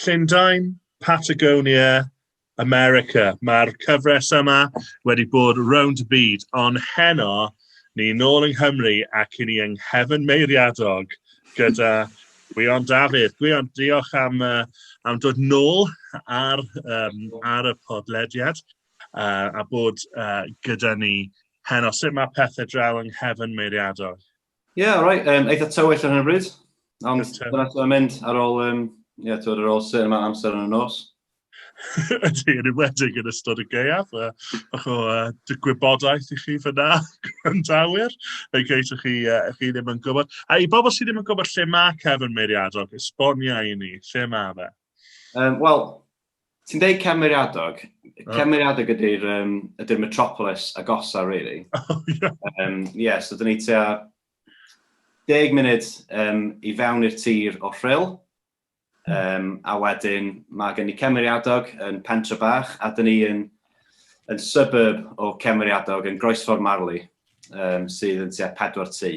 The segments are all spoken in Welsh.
Llundain, Patagonia, America. Mae'r cyfres yma wedi bod round y byd, ond heno ni nôl yng Nghymru ac i ni yng nghefn meiriadog gyda Gwion Dafydd. Gwion, diolch am, uh, am dod nôl ar, um, ar y podlediad uh, a bod uh, gyda ni heno. Sut mae pethau draw yng nghefn meiriadog? Ie, yeah, right. Um, eitha tywyll ar hyn o bryd. Ond dyna ti'n mynd ar ôl, um, ie, yeah, ar ôl sy'n yma amser yn y nos. Ydy, yn ymwedig yn ystod y geiaf. Uh, bach o uh, gwybodaeth i chi fyna, gwrandawyr, yn geis chi, uh, chi ddim yn gwybod. A i bobl sydd ddim yn gwybod lle mae Kevin Meiriadog, esbonia i ni, lle mae fe? Um, Wel, Ti'n deud cymeriadog. Cymeriadog ydy'r um, ydy metropolis agosa, really. Oh, yeah. Um, yeah, so dyn ni tua deg munud um, i fewn i'r tir o rhyl. Um, a wedyn mae gen i cymeriadog yn pentre bach a dyn ni yn, yn suburb o cymeriadog yn Groesffordd Marley um, sydd yn tua pedwar tu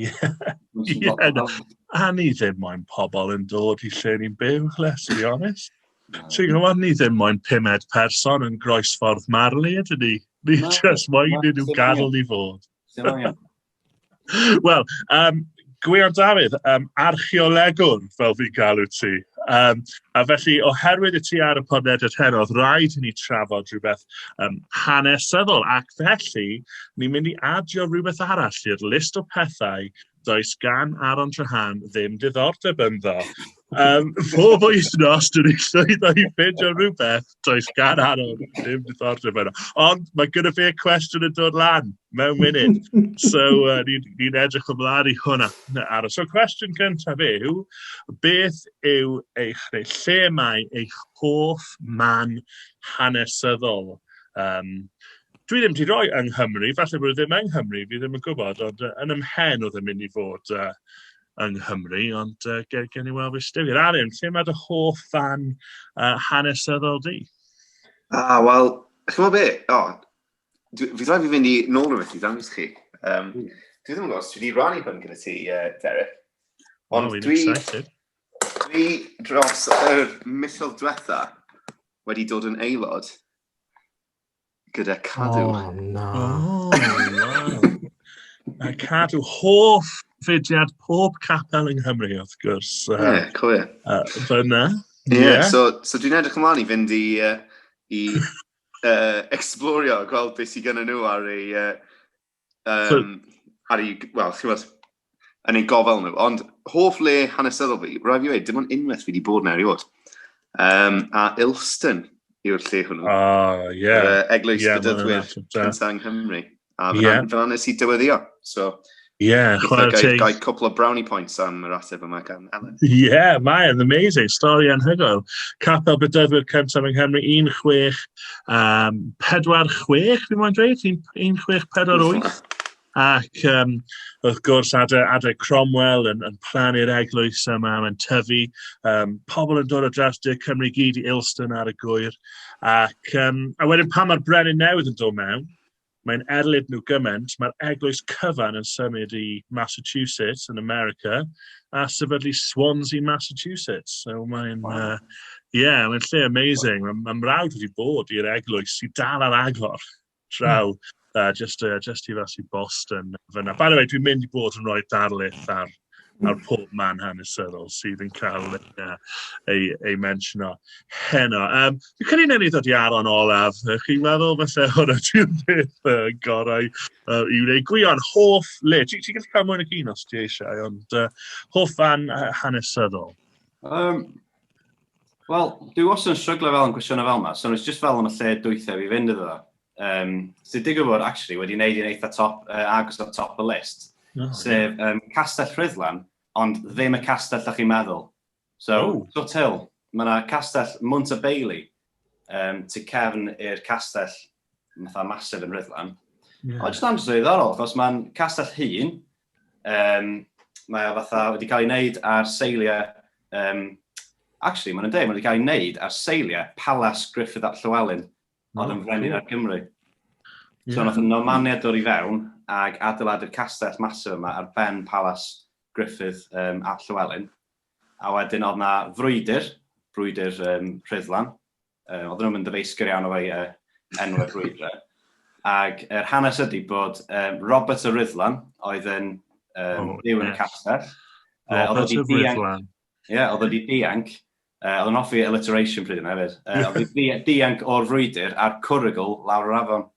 Ie, a ni ddim moyn pobl yn dod i lle ni'n byw, let's be honest. Ti'n gwybod, ni ddim moyn pumed person yn groesffordd marlu ydyn ni. Ni just moyn ni nhw gadw ni fod. Wel, um, Gwion Dafydd, um, archeolegwr fel fi'n galw ti. Um, a felly, oherwydd y ti ar y podlediad heno, oedd rhaid i ni trafod rhywbeth um, hanesyddol, ac felly ni'n mynd i adio rhywbeth arall i'r list o pethau does gan Aaron Trahan ddim diddordeb ynddo. Um, pob wythnos, dwi'n ei llwyddo i ffeindio rhywbeth, does gan Aaron ddim diddordeb ynddo. Ond mae gyda fi y cwestiwn yn dod lan. mewn munud. So, uh, ni'n ni edrych ymlaen i hwnna ar y... So, cwestiwn cyntaf yw, beth yw eich, neu lle mae eich hoff man hanesyddol? Um, dwi ddim wedi rhoi yng Nghymru, falle bod e ddim yng Nghymru, fi ddim yn gwybod, ond uh, yn ymhen oedd yn mynd i fod uh, yng Nghymru, ond uh, gen, gen i weld fy styfir. Aren, lle mae dy hoff fan uh, hanesyddol di? Ah, wel, chymod be, o, Fi rhaid fi fynd i nôl rhywbeth ti, dan chi. Um, dwi ddim yn gwybod os dwi wedi rannu hwn gyda ti, uh, Derek. Ond oh, dwi, dwi dros yr misoedd diwetha wedi dod yn aelod gyda cadw. Oh, na. Oh, wow. A cadw hoff fudiad pob capel yng Nghymru, wrth gwrs. Ie, uh, yeah, cywir. Uh, Fyna. Ie, yeah. yeah. so, so dwi'n edrych ymlaen i fynd i, uh, i uh, explorio, gweld beth sydd gen nhw ar ei... Uh, um, so, ar ei, wel, chi'n fawr, yn ei gofal nhw. Ond hoff le hanesyddol fi, rhaid fi wedi, dim ond unwaith fi wedi bod na erioed. Um, a Ilston yw'r lle hwnnw. Ah, uh, ie. Yeah. Yr uh, eglwys yeah, bydyddwyr cyntaf yng Nghymru. A fyna, yeah. fyna nes i dyweddio. So, yeah, chwarae teg. Gai cwpl o brownie points am yr ateb yma gan Ellen. Yeah, mae'n amazing. Stori anhygoel. Capel Bedyddwyr Cyntaf yng Nghymru, 16, um, 46, fi'n mwyn dweud, 1648. Ac um, wrth gwrs, adeg, adeg Cromwell yn, yn plannu'r eglwys yma, mae'n tyfu. Um, pobl yn dod o dras dy Cymru gyd i Ilston ar y gwyr. Ac, um, a wedyn pan mae'r brenin newydd yn dod mewn, Mae'n erlid nhw gymaint, mae'r eglwys cyfan yn symud i Massachusetts yn America a sefydlu Swansea, Massachusetts. So mae'n, wow. uh, yeah, mae'n lle amazing. Wow. Mae mrawd wedi bod i'r eglwys i dal ar agor draw, mm. uh, just, uh, just i fas i Boston. Fyna. By the way, dwi'n mynd i bod yn rhoi darlith ar ar pob man hanesyddol sydd yn cael ei, uh, ei, ei mensiono heno. Um, fi'n credu newn ni ddod i aron olaf. Chi'n meddwl felly hwnna ti'n beth uh, gorau uh, i wneud gwion hoff le. Ti'n ti gallu cael mwyn y gyn os ti eisiau, ond uh, hoff fan hanesyddol. Um, Wel, dwi wastad yn stryglo fel yn gwestiynau fel yma, so nes just fel yn y lle dwythau fi fynd iddo. um, sydd digwydd bod actually wedi wneud i'n eitha top, uh, agos o'r top y list, oh, sef um, Castell Rhyddlan, ond ddim y castell da chi'n meddwl. So, oh. Sut Hill, mae yna castell Mwnt y Bailey, um, tu cefn i'r castell matha masif yn Rhyddlan. Yeah. Ond jyst andros o ddiddorol, achos mae'n castell hun, um, mae o fatha wedi cael ei wneud ar seiliau um, actually, mae'n dweud, mae'n cael ei wneud ar seiliau Palace Griffith at Llywelyn Ond yn frenin ar Gymru. Yeah. So nath y Normaniaid dod i fewn ac adeiladu'r castell masif yma ar ben Palas Griffith um, at Llywelyn. A wedyn oedd na frwydr, brwydr um, Rhyddlan. Uh, oedd nhw'n mynd ddyfeisgwr iawn o fai uh, enw y brwydr. Ac yr er hanes ydy bod um, Robert y Rhyddlan oedd yn um, oh, byw yn y castell. Robert y Rhyddlan. Ie, oedd wedi dianc Yy, oedd yn hoffi alliteration pryd yna hefyd. Yy, oedd yn di- dianc o'r frwydr a'r cwrygl lawr yr afon.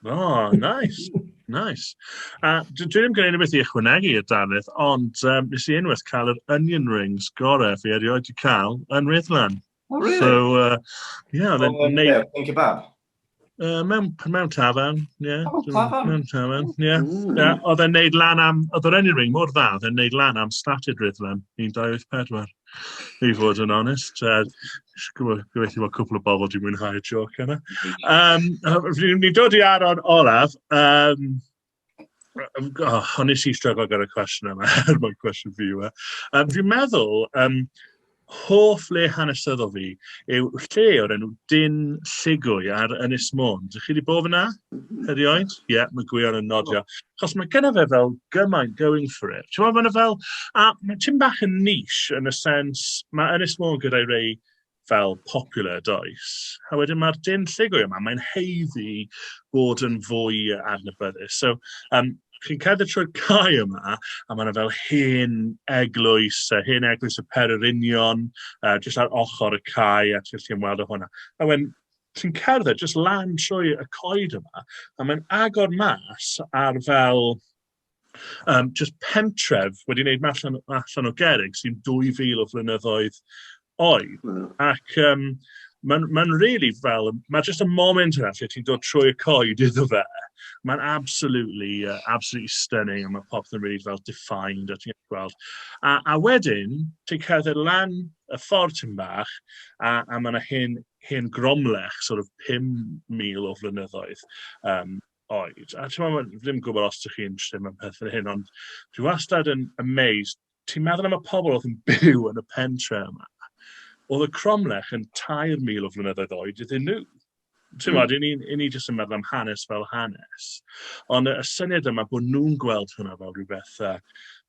O, nice, nice. A dwi dwi ddim gen i unrhyw beth i ychwanegu i'r darlith, ond um, nes i unwaith cael yr onion rings gorau fi erioed wedi cael yn Ryddlan. Oh, really? So, uh, yeah, oedd e'n Oedd yn neud... neud... Yn kebab? Uh, mewn, mewn tafarn, ie. Yeah. Oh, tafarn. Mewn tafarn, ie. Yeah. Mm. Yeah, oedd e'n neud lan am... Oedd yr enyn ring mor dda, oedd e'n neud lan am statud rydlan 1984. I fod yn onest. Uh, Gobeithio bod cwpl o bobl di mwynhau y joc yna. Um, ni dod i aron Olaf. Um, Yym, o, o'n i sy'n stryglo gyda'r cwestiwn yma, er mwyn cwestiwn fi yw e. Um, fi'n meddwl, um, hoff le hanesyddol fi yw lle o'r enw Dyn Lligwy ar Ynys Môn. Dych chi wedi bod fyna? Herioed? Ie, yeah, mae Gwion yn nodio. Chos mae gyda fe fel gymaint going for it. Ti'n meddwl, fel, a mae Tim bach yn nish yn y sens, mae Ynys Môn gyda'i rei fel popular does? A wedyn mae'r dyn llugo yma, mae'n heiddi bod yn fwy adnabyddus. So, um, chi'n cadw trwy'r cae yma, a mae'n fel hen eglwys, uh, hen eglwys y pererinion, uh, jyst ar ochr y cae, a ti'n chi'n weld o hwnna. A wedyn, ti'n cerdded jyst lan trwy y coed yma, a mae'n agor mas ar fel Um, just pentref wedi wneud allan, allan o gerig sy'n 2000 o flynyddoedd oed. Mm. Ac um, mae'n ma really fel, mae just y moment yna lle ti'n dod trwy y coed iddo fe. Mae'n absolutely, uh, absolutely stunning, a mae popeth yn really fel defined, a ti'n gweld. A, a wedyn, ti'n cerdded lan y ffordd ti'n bach, a, a mae yna hen, hen gromlech, sort of 5,000 o flynyddoedd, um, oed. A ti'n meddwl, fi ddim gwybod os ydych chi'n interested mewn pethau hyn, ond dwi wastad yn amazed. Ti'n meddwl am y pobl oedd yn byw yn y pentre yma. Oedd y cromlech yn 3,000 o flynyddoedd oed iddyn nhw. Ti'n meddwl, mm. ni, ni jyst yn meddwl am hanes fel hanes. Ond y, y syniad yma bod nhw'n gweld hwnna fel rhywbeth, uh,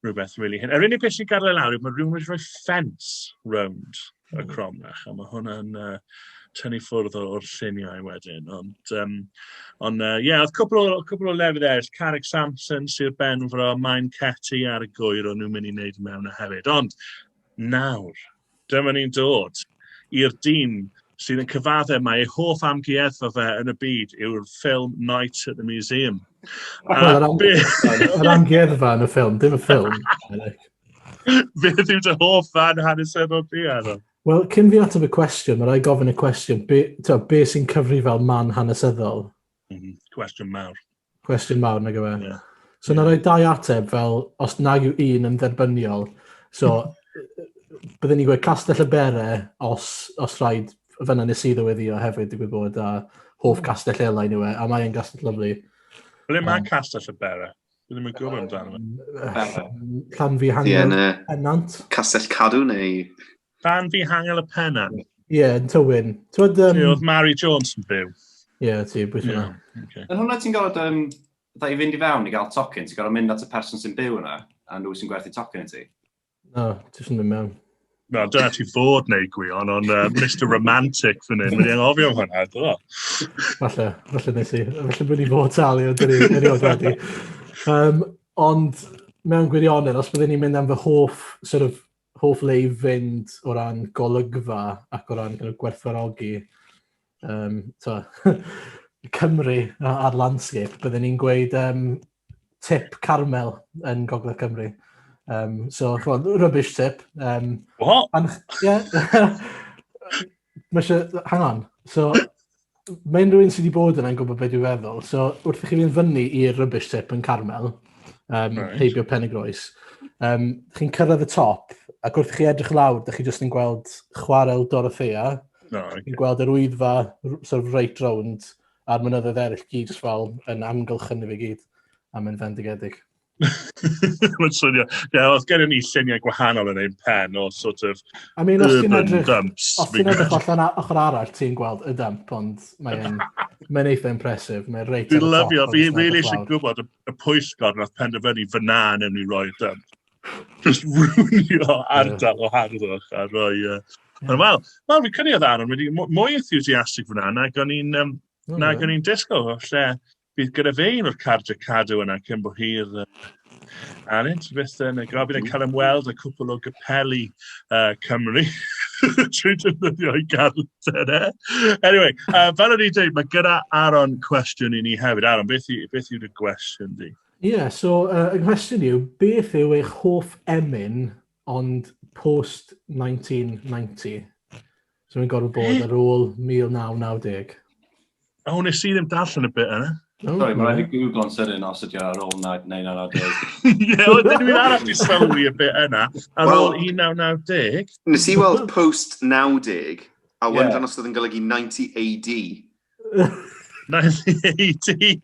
rhywbeth really hyn. Yr unig beth sy'n gadael e lawr yw mae rhywun wedi rhoi ffens rownd y cromlech, a mae hwnna'n uh, tynnu ffwrdd o'r lluniau wedyn. Ond, um, ond uh, yeah, oedd cwbl o, cwbl o lefydd eraill, Carrick Samson, Sir Benfro, Maen Ceti ar y gwyr o'n nhw'n mynd i wneud mewn a hefyd. Ond nawr, dyma ni'n dod i'r dyn sydd yn cyfadde mae ei hoff amgueddfa fe yn y byd yw'r ffilm Night at the Museum. Yr amgueddfa yn y ffilm, dim y ffilm. Beth yw dy hoff fan hanesyddol ti, Adam? Wel, cyn fi ateb y cwestiwn, mae rai gofyn y cwestiwn, be, to, be sy'n cyfri fel man hanesyddol? Mm -hmm. Cwestiwn mawr. Cwestiwn mawr, nag yma. Yeah. So, yeah. na rai dau ateb fel, os nag yw un yn dderbyniol, so, byddwn ni'n gweud castell y bere os, os rhaid fyna nes i ddyweddio hefyd, digwydd bod, a hoff castell elain yw e, a mae'n gastell lyflu. Ble mae um, castell y bere? Dwi ddim yn gwybod amdano. Llan fi hangel y penant. Castell Cadw neu... Llan fi hangel y penant. Ie, yeah, yn tywyn. Twyd, um... Oedd Mary Jones yn byw. Ie, yeah, ti, bwys yna. Okay. Yn hwnna ti'n gorfod, um, i fynd i fewn i gael tocyn, ti'n gorfod mynd at y person sy'n byw yna, a nhw sy'n gwerthu tocyn i ti. Na, ti eisiau mynd mewn. Na, dyna ti fod neu gwion, ond uh, Mr Romantic fan hyn, mae'n anghofio am hwnna, do. Falle, falle nes i, falle bod ni fod talu, ond dyna ni erioed wedi. Um, ond mewn gwirionedd, os byddwn ni'n mynd am fy hoff, sort of, hoff le i fynd o ran golygfa ac o ran kind of, gwerthfarogi um, to, Cymru a'r landscape, byddwn ni'n gweud um, tip carmel yn Gogledd Cymru. Um, so, chwod, rubbish tip. Um, What? And, yeah. hang on. So, mae unrhyw un sydd wedi bod yna'n gwybod beth dwi'n feddwl. So, wrth i chi fynd fyny i'r rubbish tip yn Carmel, um, right. heibio pen y groes, um, chi'n cyrraedd y top, ac wrth i chi edrych lawr, da chi jyst yn gweld chwarel Dorothea, no, okay. chi'n gweld yr wyddfa sort of right round, A'r mynyddoedd eraill gyd jyst fel yn amgylchynu fe gyd a mynd fendigedig. Mae'n swnio. Ie, os gennym ni lluniau gwahanol yn ein pen o sort of I mean, os ti'n urban edrych, dumps. os ti'n edrych allan a- ochr arall, ti'n gweld y dump, ond mae'n mae eitha impresif. Mae'n reit Dwi'n ar y top. lyfio, fi rili eisiau gwybod y, y pwyllgor nath penderfynu fyna yn enw i roi'r dump. just rwynio ardal o harddwch a rhoi... Uh, yeah. Wel, wel, fi cynnig oedd Aaron wedi mwy enthusiastic fyna nag o'n i'n um, oh, nag o'n i'n disgo. Lle bydd gyda fe un o'r cardiau cadw yna cyn bod hi'r uh, Aaron, ti beth yn y gofyn yn cael ymweld y cwpl o gypeli uh, Cymru trwy defnyddio i garter e. Anyway, uh, fel o'n i'n dweud, mae gyda Aaron cwestiwn i ni hefyd. Aaron, beth, i, beth yw'r gwestiwn di? Ie, yeah, so uh, y cwestiwn yw, beth yw eich hoff emyn ond post 1990? So mae'n gorfod bod ar ôl 1990. O, oh, nes i ddim darllen y bit yna. Oh, Sorry, mae'n rhaid i Google yn sydyn os ydy ar ôl 1990. Ie, oedd dyn nhw'n arall i sylwi y bit yna, ar ôl 1990. Nes i weld post 90, a wendran yeah. os oedd yn golygu 90 AD. Naill ai ti!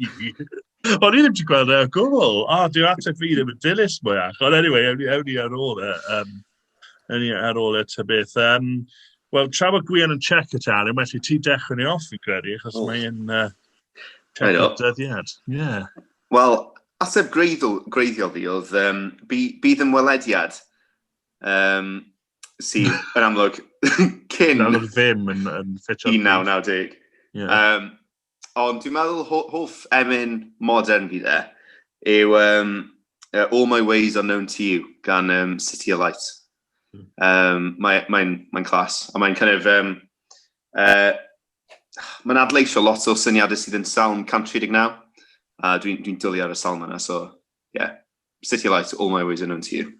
O'n i ddim wedi gweld e o gwbl! O, dyw ateb fi ddim yn dilys mwyach. Ond eniwe, ewn ni ewn ni ar ôl e, yym, ewn ni ar ôl e ta beth. Yym, wel, tra bod Gwion yn check y tân, well i ti dechrau ni off fi'n credu, achos mae e'n yy check y dyddiad. Ie. Wel, ateb greiddiol fi oedd, um, bydd ymwelediad um, sydd yn amlwg cyn... Yn amlwg ddim yn, yn ffitio. 1990. Yeah. Um, ond dwi'n meddwl ho hoff emyn modern fi dde yw um, uh, All My Ways Are Known To You gan um, City of Light. Um, hmm. mae'n mae, mae clas, a mae'n kind of... Um, uh, mae'n adleisio lot o syniadau sydd yn salm 139, a dwi'n dwi, dwi dwlu ar y salm yna, so, ie. Yeah. City Lights, All My Ways Are Known To You.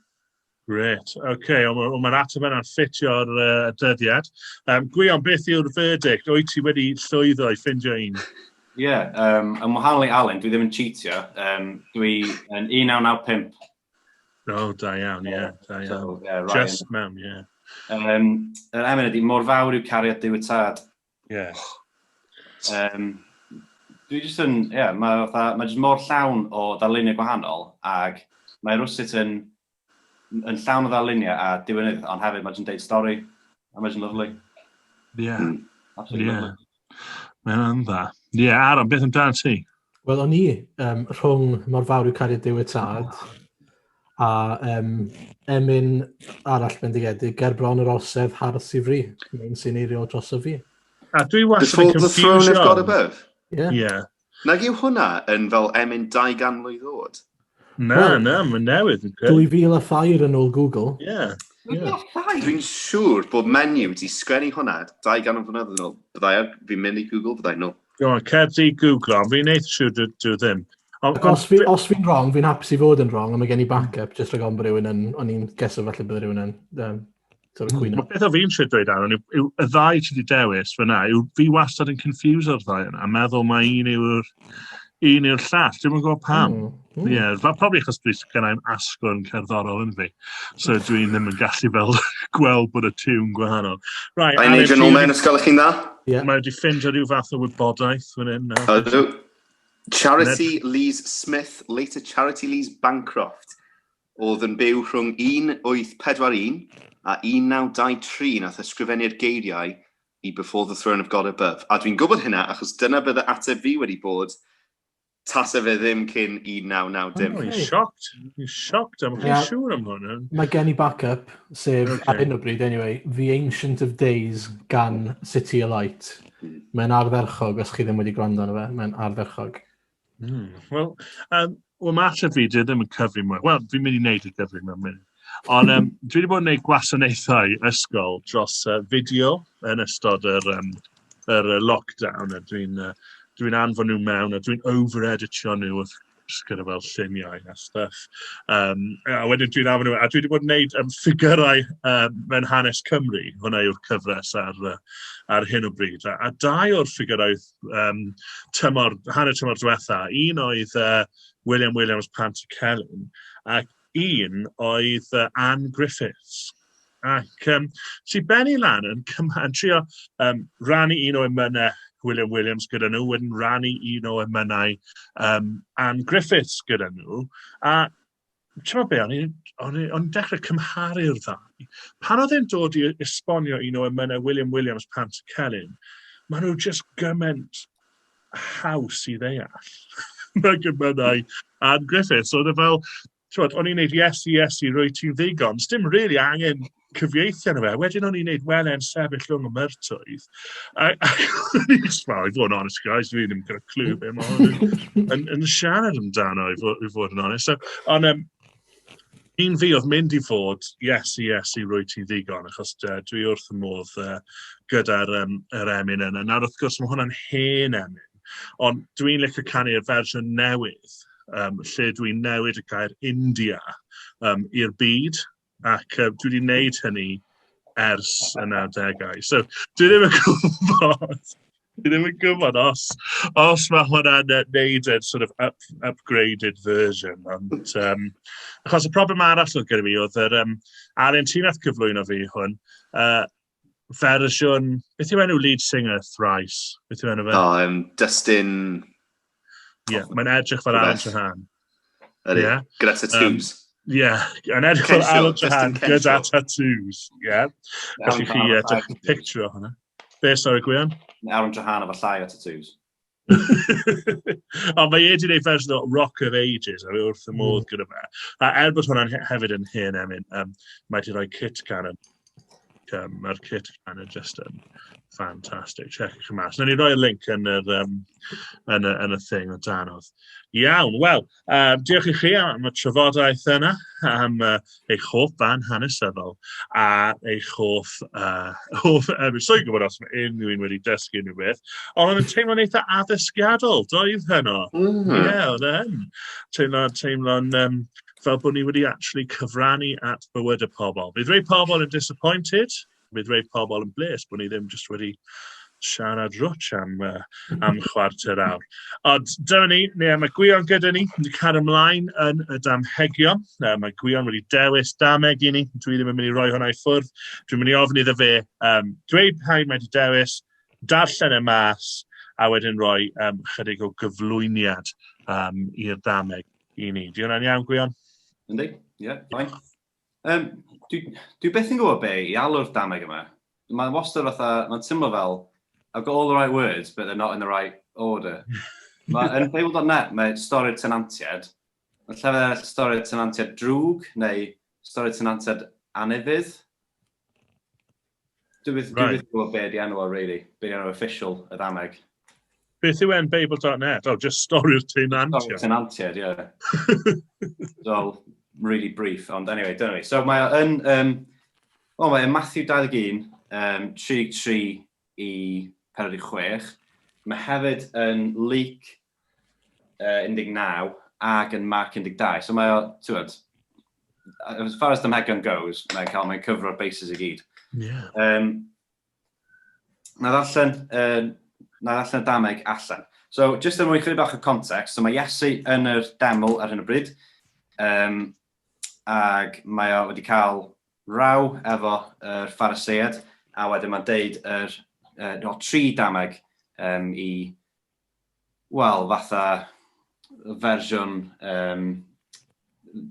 Gret, oce, okay. ond mae'r ateb yna'n ffitio'r uh, dyddiad. Um, Gwion, beth yw'r verdict? Wyt ti wedi llwyddo i ffindio un? Ie, yeah, um, yn wahanol i Alun, dwi ddim yn cheatio. Um, dwi yn 1995. O, oh, da iawn, ie, yeah, da iawn. So, yeah, Just mewn, ie. Yeah. Um, yr emyn ydy, mor fawr yw cariad Dyw y Tad. Ie. Yym, dwi jyst yn, ie, mae fatha, mae jyst mor llawn o ddarluniau gwahanol, ac mae rwsut yn, yn llawn o ddarluniau a diwynydd, ond hefyd mae jyst yn deud stori, a mae jyst yn lyflu. Ie. Mm. Absolutely yeah. lyflu. Mae'n dda. Ie, yeah, Aaron, beth amdano ti? Wel, o'n i um, rhwng mor fawr yw cariad Dyw y Tad a um, emyn arall bendigedig, ger bron yr orsedd har sifri, yn sy'n eirio dros y fi. A dwi was yn Before the throne of God above? Yeah. yeah. Nag yw hwnna yn fel emyn 200 mlwydd oed? Na, oh, na, mae'n newydd. 2000 a thair yn ôl Google. Ie. Yeah. Yeah. Dwi'n siŵr bod menu wedi sgwennu hwnna 200 mlynedd yn ôl. Byddai ar, fi'n mynd i Google, byddai nhw. Go on, cer di Google, ond fi'n eith siŵr dwi, dwi ddim. Ond, os, fi, os fi'n wrong, fi'n hapus i fod yn wrong, ond mae gen i backup, jyst rhaid gofyn bod rhywun yn, o'n i'n geso falle bod rhywun yn, um, Dyna hmm. cwyno. Beth o fi'n siarad dweud ar hwn, yw y ddau ti wedi dewis fyna, yw fi wastad yn confused o'r ddau yna, a meddwl mae un yw'r un yw'r llall, dwi'n yn gwybod pam. Mm. Mm. Yeah, fa, probably achos dwi'n gennau'n asgwrn cerddorol yn fi, so dwi ddim yn gallu fel gweld bod y tiwn gwahanol. Right, I need an omen, ysgol chi'n dda? Yeah. Mae wedi ffind rhyw fath o wybodaeth fan hyn. Ydw. Charity Lee's Smith, later Charity Lee's Bancroft. Oedd yn byw rhwng 1841 a 1923 nath ysgrifennu'r geiriau i Before the Throne of God Above, a dwi'n gwybod hynna achos dyna bydde ateb fi wedi bod tase fe ddim cyn 1990. Dwi'n shocked, dwi'n shocked, am chi siŵr am hwn. Mae gen i back-up, sef okay. ar hyn o bryd anyway, The Ancient of Days gan City Alight. Mae'n ardderchog, os chi ddim wedi gwrando arno fe, mae'n ardderchog. Mm. Wel, um, well, mae allan fi, dwi ddim yn cyfri mwy. Wel, fi'n mynd i wneud y cyfri mewn mynd. Ond um, dwi wedi bod yn gwneud gwasanaethau ysgol dros uh, fideo yn ystod yr, um, yr uh, lockdown. A dwi'n uh, dwi anfon nhw mewn a dwi'n over-editio nhw wrth gwrs gyda fel lluniau a stuff. Um, a wedyn dwi'n anfon nhw, a dwi wedi bod yn gwneud um, ffigurau um, mewn hanes Cymru. Hwna yw'r cyfres ar, uh, ar hyn o bryd. A, a dau o'r ffigurau um, tymor, hanner tymor diwetha. Un oedd uh, William Williams Pant y Celyn, ac un oedd uh, Anne Griffiths. Ac um, si Benny Lan yn, yn trio um, rannu un o emynau William Williams gyda nhw, wedyn rannu un o emynau um, Anne Griffiths gyda nhw. A ti'n be, o'n i'n o'n i, o'n dechrau cymharu'r ddau. Pan oedd e'n dod i esbonio un o emynau William Williams Pant y Celyn, maen nhw just gymaint haws i ddeall. Mae gymynau Ann Griffiths. Oedd e fel, ti'n o'n i'n neud yes i yes i rwy ti'n ddigon. Dim really angen cyfieithu arno fe. Wedyn o'n i'n neud wele'n sefyll rhwng y myrtoedd. A, a o'n i'n smal, i fod yn honest, guys, fi ddim gyda clw be mae hwn yn, yn siarad amdano, i fod, i fod yn honest. So, ond um, un fi oedd mynd i fod, yes, yes, i rwy ti ddigon, achos uh, dwi wrth y modd uh, gyda'r um, er emyn yna. Nawr, wrth gwrs, mae hwnna'n hen emyn, ond dwi'n licio canu'r fersiwn newydd, um, lle dwi'n newid y gair India um, i'r byd, ac uh, dwi wedi gwneud hynny ers y 90au. So, dwi ddim yn gwybod, dwi ddim yn gwybod os, os mae hwnna'n neud yn sort of up, upgraded version. Ond, um, achos y problem arall oedd gyda fi oedd yr um, Arentinath cyflwyno fi hwn, uh, fersiwn... Beth yw enw lead singer Thrice? Beth yw enw fe? O, um, Dustin... Ie, yeah, mae'n edrych fel Alan Trahan. Ydy, yeah. gyda tattoos. Um, Ie, yeah. yn edrych fel Alan Trahan gyda tattoos. Ie. Yeah. Felly chi edrych yn picture o hwnna. Be, sori, Gwion? Alan Trahan efo llai o tattoos. Ond mae e wedi gwneud fersiwn o Rock of Ages, a mae wrth y modd gyda fe. A er bod hwnna'n hefyd yn hen emyn, um, mae wedi rhoi Kit Cannon. Um, Mae'r Kit Cannon just yn ffantastig. Check eich mas. Nw'n ni roi link yn yr, um, yn, y, yn y thing o danodd. Iawn, wel, Uh, diolch i chi am y trafodaeth yna, am uh, eich hoff fan hanesyddol a eich hoff... Uh, hoff uh, Rwy'n soi gwybod os mae unrhyw un wedi dysgu unrhyw beth, ond oedd yn teimlo'n eitha addysgiadol, doedd heno. Mm. Ie, yeah, oedd e yn. Teimlo'n teimlo um, fel bod ni wedi actually cyfrannu at bywyd y pobl. Bydd rhai pobl yn disappointed, Bydd rhai pobl yn bles bod ni ddim jyst wedi siarad rwtsh am, uh, am chwarter awr. Ond dyna ni, neu mae Gwion gyda ni, wedi cario ymlaen yn y damhegion. Uh, mae Gwion wedi dewis dameg i ni, dwi ddim yn mynd i roi hwnna i ffwrdd. Dwi'n mynd i ofyn iddo fe um, dweud pa mae wedi dewis, darllen y mas, a wedyn rhoi um, chydig o gyflwyniad um, i'r dameg i ni. Di hwnna'n iawn, Gwion? Yndi, ie, yeah, fine. Um, dwi, dwi beth yn gwybod be i alw'r dameg yma. Mae'n wastad fatha, mae'n tymlo fel, I've got all the right words, but they're not in the right order. mae yn Fable.net, mae stori'r tenantiad, mae llefydd eraill stori'r tenantiad drwg, neu stori'r tenantiad anefydd. Dwi byth right. yn gwybod beth i enw o, really. Beth i enw official, y ddaneg. Beth yw enbabel.net? Oh, just stori'r tenantiad. Stori'r tenantiad, ie. Yeah. Dol, really brief, ond anyway, dyna ni. So mae yn, um, o, mae Matthew 21, um, 33 i 46. Mae hefyd yn Luke uh, 19 ac yn Mark 12. So mae o, ti'n as far as the Megan goes, mae'n cael mae'n cyfro'r bases i gyd. Yeah. Um, na ddarllen, uh, na ddarllen y dameg allan. So, just yn er mwyn chyd bach o context, so mae Iesu yn yr deml ar hyn o bryd, um, ac mae o wedi cael raw efo yr er ffaraseiad, a wedyn mae'n deud yr, uh, no, tri dameg um, i wel, fatha fersiwn, um,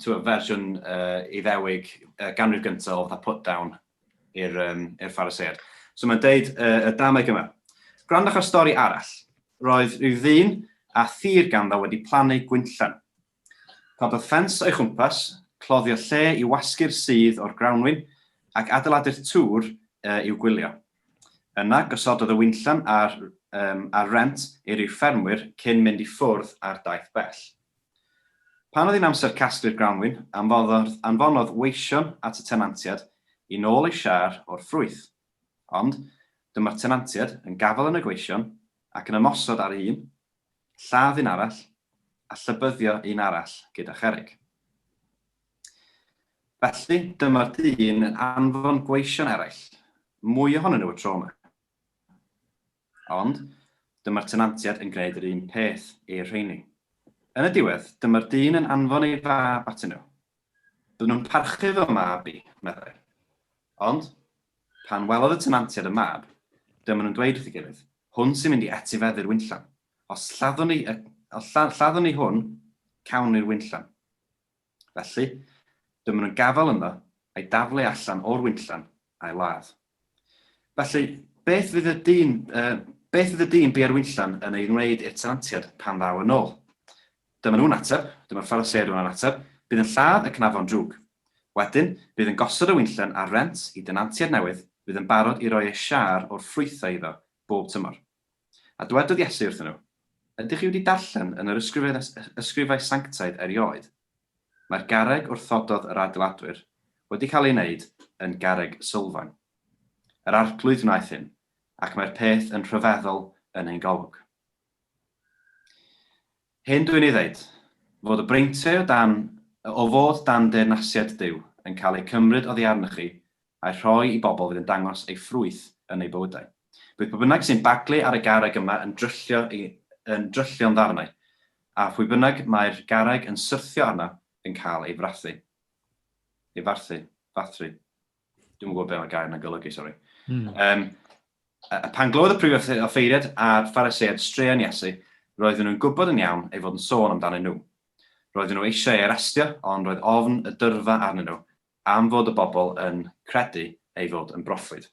twa, fersiwn uh, Iddewig uh, ganrif gyntaf o fatha put-down i'r um, er ffaraseiad. So mae'n deud uh, y dameg yma. Gwrandwch ar stori arall. Roedd rhyw ddyn a thir ganddo wedi plannu gwynllan. Cododd ffens o'i chwmpas, cloddio lle i wasgu'r sudd o'r grawnwin, ac adeiladu'r tŵr i'w gwylio. Yna, gosododd y winllan ar ar rent i ryw ffermwyr cyn mynd i ffwrdd ar daith bell. Pan oedd hi'n amser casglu'r grawnwin, anfonodd anfonodd weision at y tenantiad i nôl ei siâr o'r ffrwyth. Ond, dyma'r tenantiad yn gafael yn y gweision, ac yn ymosod ar un, lladd un arall, a llybyddio un arall gyda cherrig. Felly, dyma'r dyn yn anfon gweision eraill, mwy ohonyn nhw y tro yma. Ond, dyma'r tenantiad yn gwneud yr un peth i'r rheini. Yn y diwedd, dyma'r dyn yn anfon ei fab atyn nhw, Bydden nhw'n parchu fy mab i, meddai. Ond, pan welodd y tenantiaid y mab, dyma nhw'n dweud wrth ei gilydd, Hwn sy'n mynd i etifeddu'r winllan. Os lladdwn ni, os lladdwn ni hwn, cawn ni'r winllan. Felly, dyma nhw'n gafael ynddo, a'i daflu allan o'r winllan, a'i ladd. Felly, beth fydd y dyn, uh, beth fydd y dyn bu ar wynllan yn ei wneud i'r tenantiad pan ddaw yn ôl? Dyma nhw'n ateb, dyma'r Phariseaid yn ateb, bydd yn lladd y cnafon drwg. Wedyn, bydd yn gosod y wynllan ar rent i denantiad newydd fydd yn barod i roi ei siâr o'r ffrwythau iddo bob tymor. A dwedodd Iesu wrthyn nhw, Ydych chi wedi darllen yn yr Ysgrifau Sanctaidd erioed, Mae'r garreg wrthododd yr adeiladwyr wedi cael ei wneud yn garreg sylfaen. Yr Arglwydd wnaeth hyn, ac mae'r peth yn rhyfeddol yn ein golwg. Hyn dwi'n ei ddeud, fod y breintiau o fod dan deyrnasiad Duw yn cael eu cymryd oddi arnoch chi a'u rhoi i bobl fydd yn dangos eu ffrwyth yn eu bywydau. Bydd pwy bynnag sy'n baglu ar y garreg yma yn dryllio ei yn dryllio'n ddarnau, a phwy bynnag mae'r garreg yn syrthio arno yn cael ei frathu. Ei farthu. Fathru. Dwi'm yn gwybod be' mae gair 'na'n golygu, sori. Mm. Um, a, a pan glodd y prif offeiriad a'r Phariseaid straeon Iesu, roedden nhw'n gwybod yn iawn ei fod yn sôn amdanyn nhw. Roedden nhw eisiau ei arestio, ond roedd ofn y dyrfa arnyn nhw, Am fod y bobl yn credu ei fod yn broffwyd.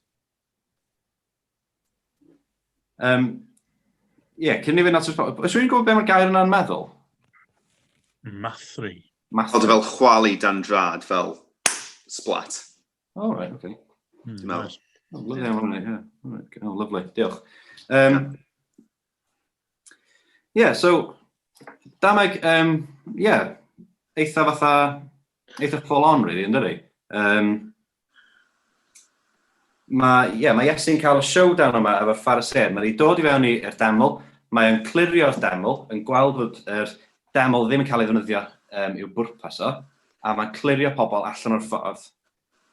Um, Ie, yeah, cyn i fi natur... Os yw'n gwybod beth mae'r gair yna'n meddwl? Mathri. Mathri. Oedd e fel chwalu dan drad, fel splat. O, oh, right, okay. Mm, Dwi'n meddwl. Oh, lovely, yeah. Right, yeah. Right. Oh, lovely, diolch. Um, yeah, so, dameg, um, yeah, eitha fatha eitha full on, really, yn dydi? Um, mae, yeah, mae Iesu'n cael y showdown yma efo'r Phariseaid. Mae'n ei dod i fewn i'r deml, mae'n clirio'r deml, yn gweld bod yr deml ddim yn cael ei ddefnyddio um, i'w bwrpas o, a mae'n clirio pobl allan o'r ffordd.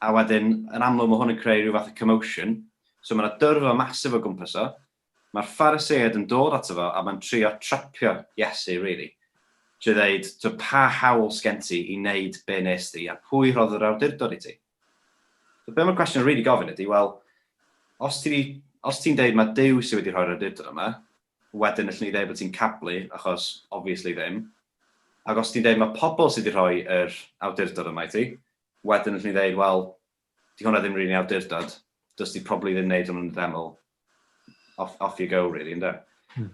A wedyn, yn amlwg, mae hwn yn creu rhyw fath o commotion, so mae'n dyrfa masif o gwmpas o, Mae'r Phariseaid yn dod ato fo a mae'n trio trapio Iesu rili, trwy ddeud, Tibod, pa hawl sgen ti i wneud be wnes di, a pwy rhodd yr awdurdod i ti? So be mae'r cwestiwn yn rili gofyn ydy, wel, os ti 'di, os ti'n deud mae Duw sydd wedi rhoi'r awdurdod yma, wedyn allwn ni ddeud bod ti'n cablu, achos obviously ddim. Ac os ti'n deud mae pobl sydd wedi rhoi yr awdurdod yma i ti, wedyn allwn ni ddeud, wel, 'Di hwnna ddim rili'n awdurdod, does di probably ddim wneud hwnnw'n ddeml, off, off you go really, ynddo? Hmm.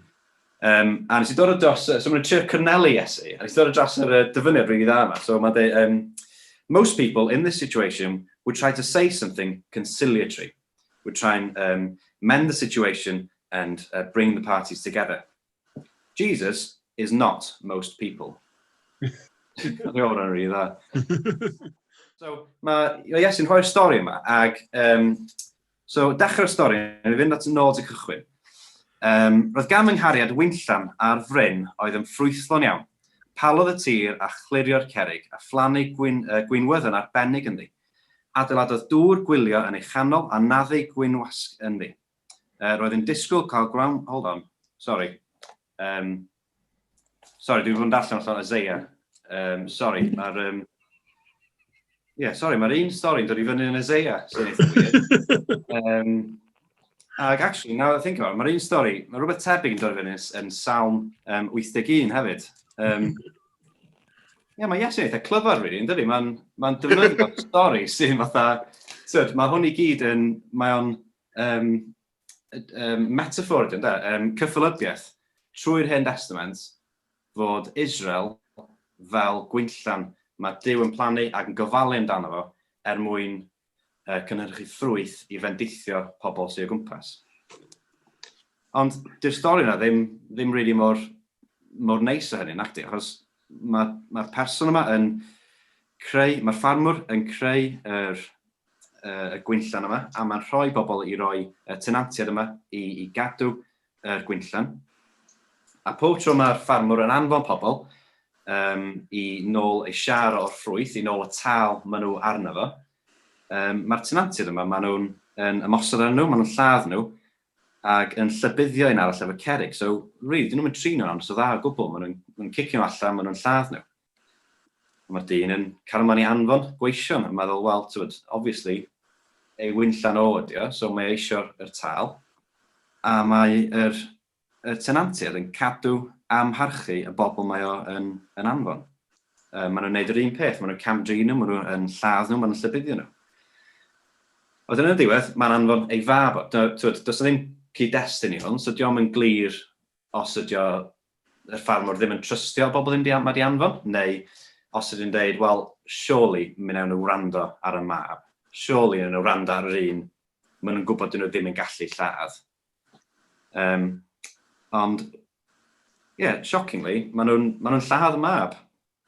Um, a nes i dod o dros, so mae'n trio cyrnelu Iesu, a nes i dod o dros yr uh, dyfyniad rili dda yma. So mae'n dweud, um, most people in this situation would try to say something conciliatory, would try and um, mend the situation and uh, bring the parties together. Jesus is not most people. Mae o'n rhan rhi dda. so, mae Iesu'n rhoi'r stori yma, ac um, so, dechrau'r stori, yn ei fynd at yn ôl i cychwyn. Um, roedd gan ynghariad wynllan ar fryn oedd yn ffrwythlon iawn. Palodd y tir a chlirio'r cerig a phlannu gwyn, uh, gwynwydd yn arbennig ynddi. Adeiladodd dŵr gwylio yn ei chanol a naddu gwynwasg ynddi. Uh, roedd yn disgwyl cael ground... Hold on, sorry. Um, sorry, dwi'n fod yn darllen allan Isaiah. Um, sorry, mae'r... Um, yeah, sorry, mae'r un stori'n dod i fyny yn Isaiah, sy'n eitha weird. um, ac actually, now I think about it, mae'r un stori, mae rhywbeth tebyg yn dod i fyny yn Salm um, 81 hefyd. Um, yeah, mae Iesu'n eitha clyfar, really, yn dydy? Mae'n ma, n, ma n defnyddio'r stori sy'n fatha... Tyd, mae hwn i gyd yn... Mae o'n um, um, metafor ydy, ynddo? Um, cyffelybiaeth trwy'r hen testament fod Israel fel gwynllan mae Dyw yn plannu ac yn gofalu amdano fo er mwyn uh, cynhyrchu ffrwyth i fendithio pobl sy'n o gwmpas. Ond dy'r stori yna ddim, ddim really mor, mor neis o hynny, nacdi, achos mae'r mae person yma yn creu, mae'r ffarmwr yn creu yr, y gwinllan yma, a mae'n rhoi pobl i roi y tenantiaid yma i, i gadw yr gwinllan. A pob tro mae'r ffarmwr yn anfon pobl um, i nôl ei siar o'r ffrwyth, i nôl y tal maen nhw arno fo, um, mae'r tenantiaid yma, maen nhw'n yn ymosod ar nhw, maen nhw'n lladd nhw, ac yn llybuddio un arall efo cerig. So, really, dyn nhw'n mynd trin nhw'n amser dda o gwbl, maen nhw'n cicio nhw allan, maen nhw'n lladd nhw. Mae'r dyn yn carman i anfon gweision a meddwl wel t'mod obviously ei wynllan o ydi o so mae o isio yr tâl a mae yr y tenantiaid yn cadw amharchu y bobl mae o yn yn anfon. Yy ma' nhw'n neud yr un peth, ma' nhw'n cam-drin nhw, ma' nhw yn lladd nhw, ma' nhw'n llybuddio nhw. A wedyn yn y diwedd, mae'n anfon ei fab o. T'mod, does 'na ddim cyd-destun i hwn, so dio'm yn glir os ydy o, yr ffarmwr ddim yn trystio bobl yn mynd i am- mad i anfon, neu os ydy nhw'n deud, wel, surely mi wnawn nhw wrando ar y mab, surely wnawn nhw wrando ar yr un maen nhw'n gwybod dyn nhw ddim yn gallu lladd. Um, ond, ie, yeah, shockingly, maen nhw'n ma nhw lladd y mab.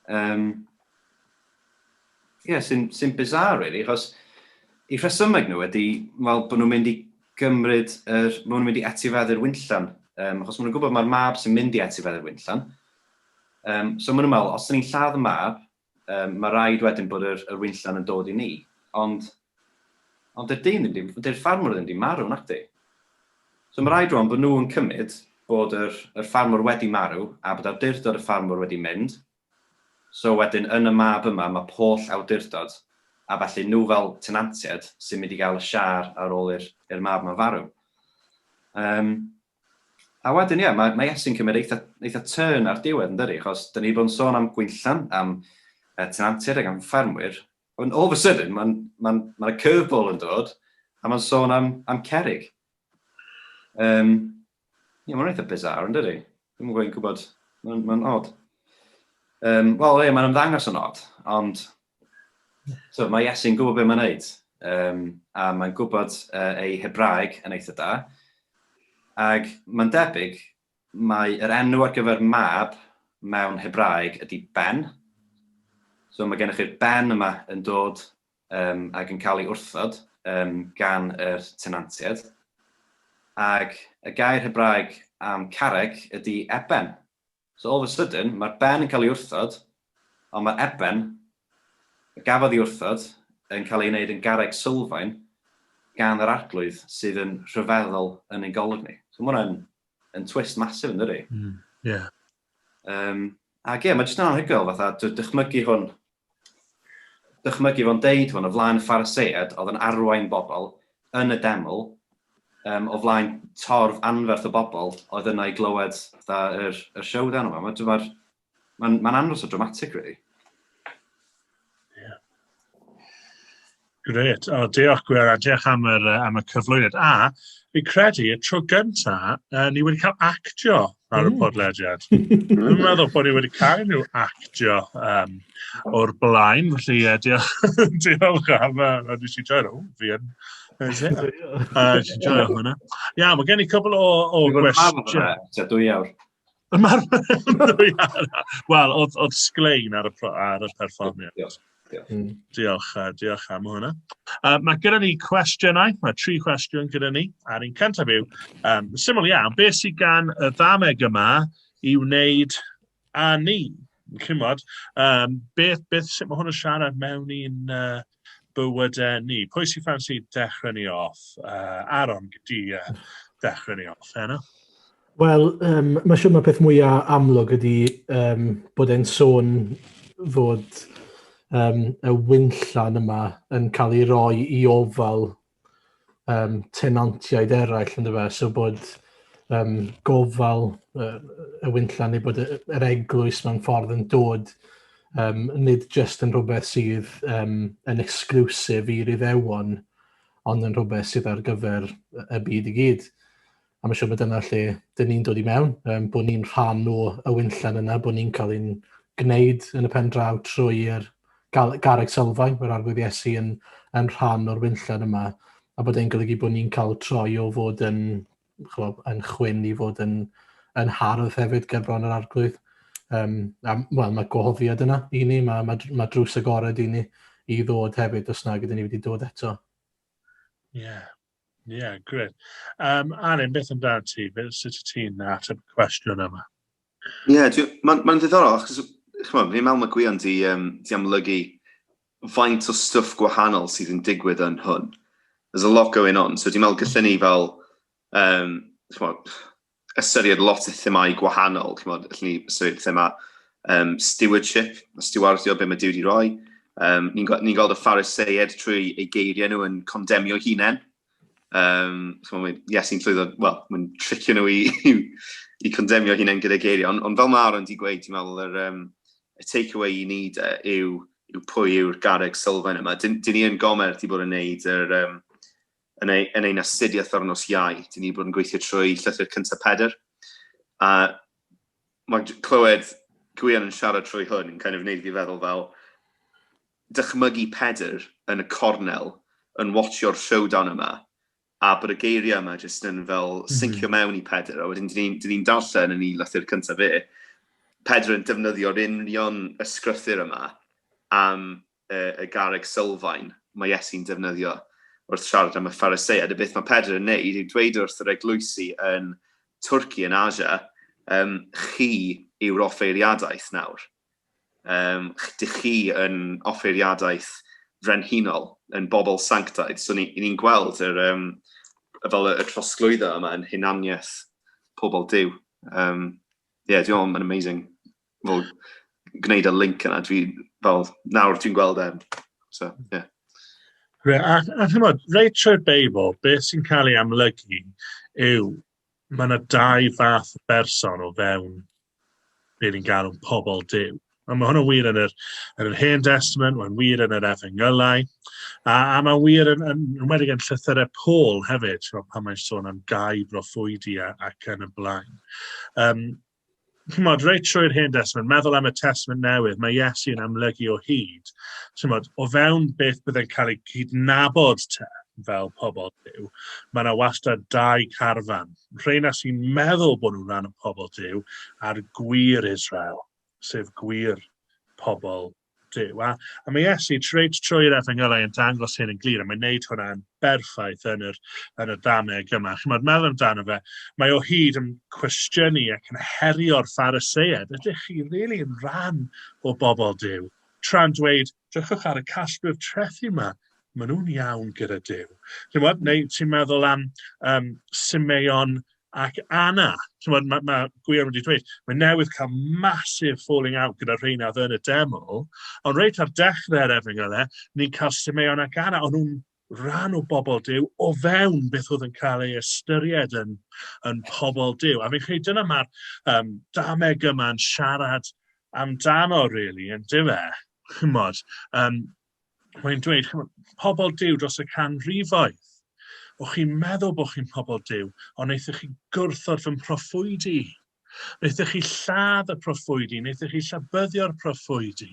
Um, yeah, sy'n sy bizarre, really, achos i rhesymeg nhw ydy, wel, bod nhw'n mynd i gymryd, er, bod nhw'n mynd i etifeddu'r wynllan, um, achos maen nhw'n gwybod mae'r mab sy'n mynd i etifeddu'r wynllan. Um, so maen nhw'n meddwl, os ydyn ni'n lladd y mab, um, mae rhaid wedyn bod yr, yr wynllan yn dod i ni. Ond Ond 'di'r dyn ddim 'di... 'di'r ffarmwr ddim 'di marw, nacdi? So ma' raid rwan bod nhw yn cymyd bod yr yr ffarmwr wedi marw a bod awdurdod y ffarmwr wedi mynd, so wedyn yn y mab yma ma' pwll awdurdod a felly nhw fel tenantiaid sy'n mynd i gael y siâr ar ôl i'r i'r mab yma farw. Yym a wedyn ie ma' ma' Iesu'n cymryd eitha eitha turn ar diwedd yndydi achos 'dan ni 'di bod yn sôn am Gwynllan, am yy tenantiaid ac am ffarmwyr Ond all of a sudden, mae'n, mae'n, mae'n y curveball yn dod, a mae'n sôn am, am cerig. Um, ie, mae'n eitha bizarre yn dydy. Dwi'n gwybod, gwybod, mae'n, mae'n odd. Um, Wel, ie, mae'n ymddangos yn odd, ond so, mae Iesu'n gwybod beth mae'n neud. Um, a mae'n gwybod uh, ei Hebraeg yn eitha da. Ac mae'n debyg Mae yr enw ar gyfer mab mewn Hebraeg ydi Ben. So mae gennych chi'r Ben yma yn dod um, ac yn cael ei wrthod um, gan yr tenantiaid. Ac y gair Hebraeg am carreg ydi eben. So all of a sudden, mae'r Ben yn cael ei wrthod Ond mae Eben, y gafodd ei wrthod, yn cael ei wneud yn garreg sylfaen gan yr Arglwydd sydd yn rhyfeddol yn ein golwg ni. So mae hwnna'n yn twist masif yn dydi? Mm, yeah. Um, ac ie, yeah, mae jyst yn anhygoel fatha dychmygu hwn dychmygu fo'n deud hwn o flaen ffaraseiad oedd yn arwain bobl yn y deml um, o flaen torf anferth o bobl oedd yna i glywed yr, yr showdown yma. Mae'r Mae'n ma andros o dramatic, really. Gret. O, diolch Gwyr, a diolch am, yr, am y cyflwyniad. A, fi credu, y tro gynta, uh, ni wedi cael actio ar y mm. podlediad. Dwi'n meddwl bod ni wedi cael nhw actio um, o'r blaen, felly uh, diolch, diolch am, uh, nes i joio nhw, fi yn. Nes i joio hwnna. Ia, mae gen i cwbl o, o gwestiwn. Dwy awr. Wel, oedd, oedd sglein ar y, ar y perfformiad. Diolch. Diolch. Mm. Diolch, uh, diolch am hwnna. Uh, mae gyda ni cwestiynau, mae tri cwestiwn gyda ni, a'r un cyntaf yw, um, syml iawn, beth sydd gan y ddameg yma i wneud a ni? Chymod, um, beth, beth, sut mae hwn yn siarad mewn i'n uh, bywydau ni. Pwy sy'n ffansi dechrau ni off? Uh, Aaron, gyda uh, dechrau ni off, heno? Wel, um, mae siwr mae peth mwyaf amlwg ydy um, bod e'n sôn fod um, y wynllan yma yn cael ei roi i ofal um, tenantiaid eraill yn dyfa, so bod um, gofal uh, y wynlla neu bod yr eglwys mewn ffordd yn dod um, nid jyst yn rhywbeth sydd um, yn exclusif i'r iddewon, ond yn rhywbeth sydd ar gyfer y byd i gyd. A mae'n siŵr bod dyna lle dyn ni'n dod i mewn, um, bod ni'n rhan o y wynllen yna, bod ni'n cael ein gwneud yn y pen draw trwy'r garreg sylfaen, mae'r arglwydd Iesu yn, yn rhan o'r wynllen yma, a bod e'n golygu bod ni'n cael troi o fod yn, chlo, yn chwyn i fod yn, yn hardd hefyd gerbron yr arglwydd. Um, a, well, mae gohofiad yna i ni, mae, mae, mae drws agored i ni i ddod hefyd os na gyda ni wedi dod eto. Ie, yeah. Ie, yeah, gred. Um, Arin, beth amdano ti? Beth sut ti'n ateb y cwestiwn yma? Ie, yeah, mae'n ma ddiddorol, achos chymod, fi'n meddwl mae gwion di, um, di amlygu faint o stwff gwahanol sydd yn digwydd yn hwn. There's a lot going on, so dwi'n meddwl gallwn ni fel, um, chymod, ystyried lot o themau gwahanol, chymod, allwn ni ystyried thema um, stewardship, stiwardio be mae Dyw wedi rhoi. Um, ni'n ni gweld y phariseied trwy ei geiriau nhw yn condemnio hunain. Um, chymod, yes, i'n llwyddo, wel, mae'n tricio nhw i, i, i condemnio hunain gyda geiriau, ond, ond fel mae Aaron wedi gweud, ti'n meddwl, yr, um, y take-away i ni de, yw, yw pwy yw'r garreg sylfaen yma. Dyn, dyn ni yn gomer ti bod yn neud yr, um, yn, ei, yn ein astudiaeth ar nos iau, dyn ni wedi bod yn gweithio trwy llythyr cyntaf Pedr, a mae clywed Gwion yn siarad trwy hwn yn kind of wneud fi feddwl fel dychmygu Pedr yn y cornel yn watsio'r showdown yma, a bod y geiriau yma jyst yn fel mhm. syncio mewn i Pedr, a wedyn dyn ni'n ni darllen yn ei lythyr cyntaf fe, Pedr yn defnyddio'r union ysgrythyr yma am y garreg sylfaen mae Iesu'n defnyddio wrth siarad am y Phariseaid, a beth mae Pedr yn neud yw dweud wrth yr eglwysi yn Twrci, yn Asia, um, chi yw'r offeiriadaeth nawr. Um, dych chi yn offeiriadaeth frenhinol, yn bobl sanctaidd. So ni'n ni, gweld yr, um, fel y trosglwyddo yma yn hunaniaeth pobl Dyw. Um, yeah, dwi'n meddwl mae'n amazing fel, gwneud y link yna, dwi, fel, nawr dwi'n gweld e. So, ie. Yeah. Gre, a, a chymod, reit trwy'r Beibl, beth sy'n cael ei amlygu yw, mae yna dau fath o berson o fewn beth ni'n galw'n pobl Dyw. A mae hwnna'n wir yn yr, yn yr Hen Testament, mae'n wir yn yr Efengylau, a, a mae'n wir yn, yn, yn wedi yn llythyrau Paul hefyd, pan mae'n sôn am gau broffwydi ac yn y blaen. Um, chimod, reit trwy'r Hen Testament, meddwl am y Testament Newydd, mae Iesu yn amlygu o hyd, chimod, o fewn beth byddai'n cael ei cydnabod te fel pobl Dyw, mae yna wastad dau carfan, rheina sy'n meddwl bod nhw'n rhan o pobl Dyw, a'r gwir Israel, sef gwir pobl Duw, a, a mae Iesu reit trwy'r efengylau yn dangos hyn yn glir, a mae'n neud hwnna'n berffaith yn yr, yn y dameg yma. Chymod, meddwl amdano fe, mae o hyd yn cwestiynu ac yn herio'r ffariseied, ydych chi rili really yn rhan o bobl Dyw? Tra'n dweud, drychwch ar y casglwyr trethi yma, Maen nhw'n iawn gyda Duw. Chimod, neu ti'n meddwl am um, Simeon ac Anna. Chimod, mae, mae Gwion wedi dweud, mae newydd cael massive falling out gyda'r rheina oedd yn y demo, ond reit ar dechrau'r efengyl e, ni'n cael Simeon ac Anna, ond nhw'n rhan o bobl Dyw o fewn beth oedd yn cael ei ystyried yn, yn pobl Dyw. A fi'n credu dyna mae'r um, dameg yma'n siarad amdano, really, yn dyfa. Chymod, um, mae'n dweud, pobl Dyw dros y canrifoedd, o chi'n meddwl bod chi'n pobl Dyw, ond wnaethoch chi gwrthod fy mhroffwyd i. Wnaethoch chi lladd y proffwyd i, wnaethoch chi llabyddio'r proffwyd i.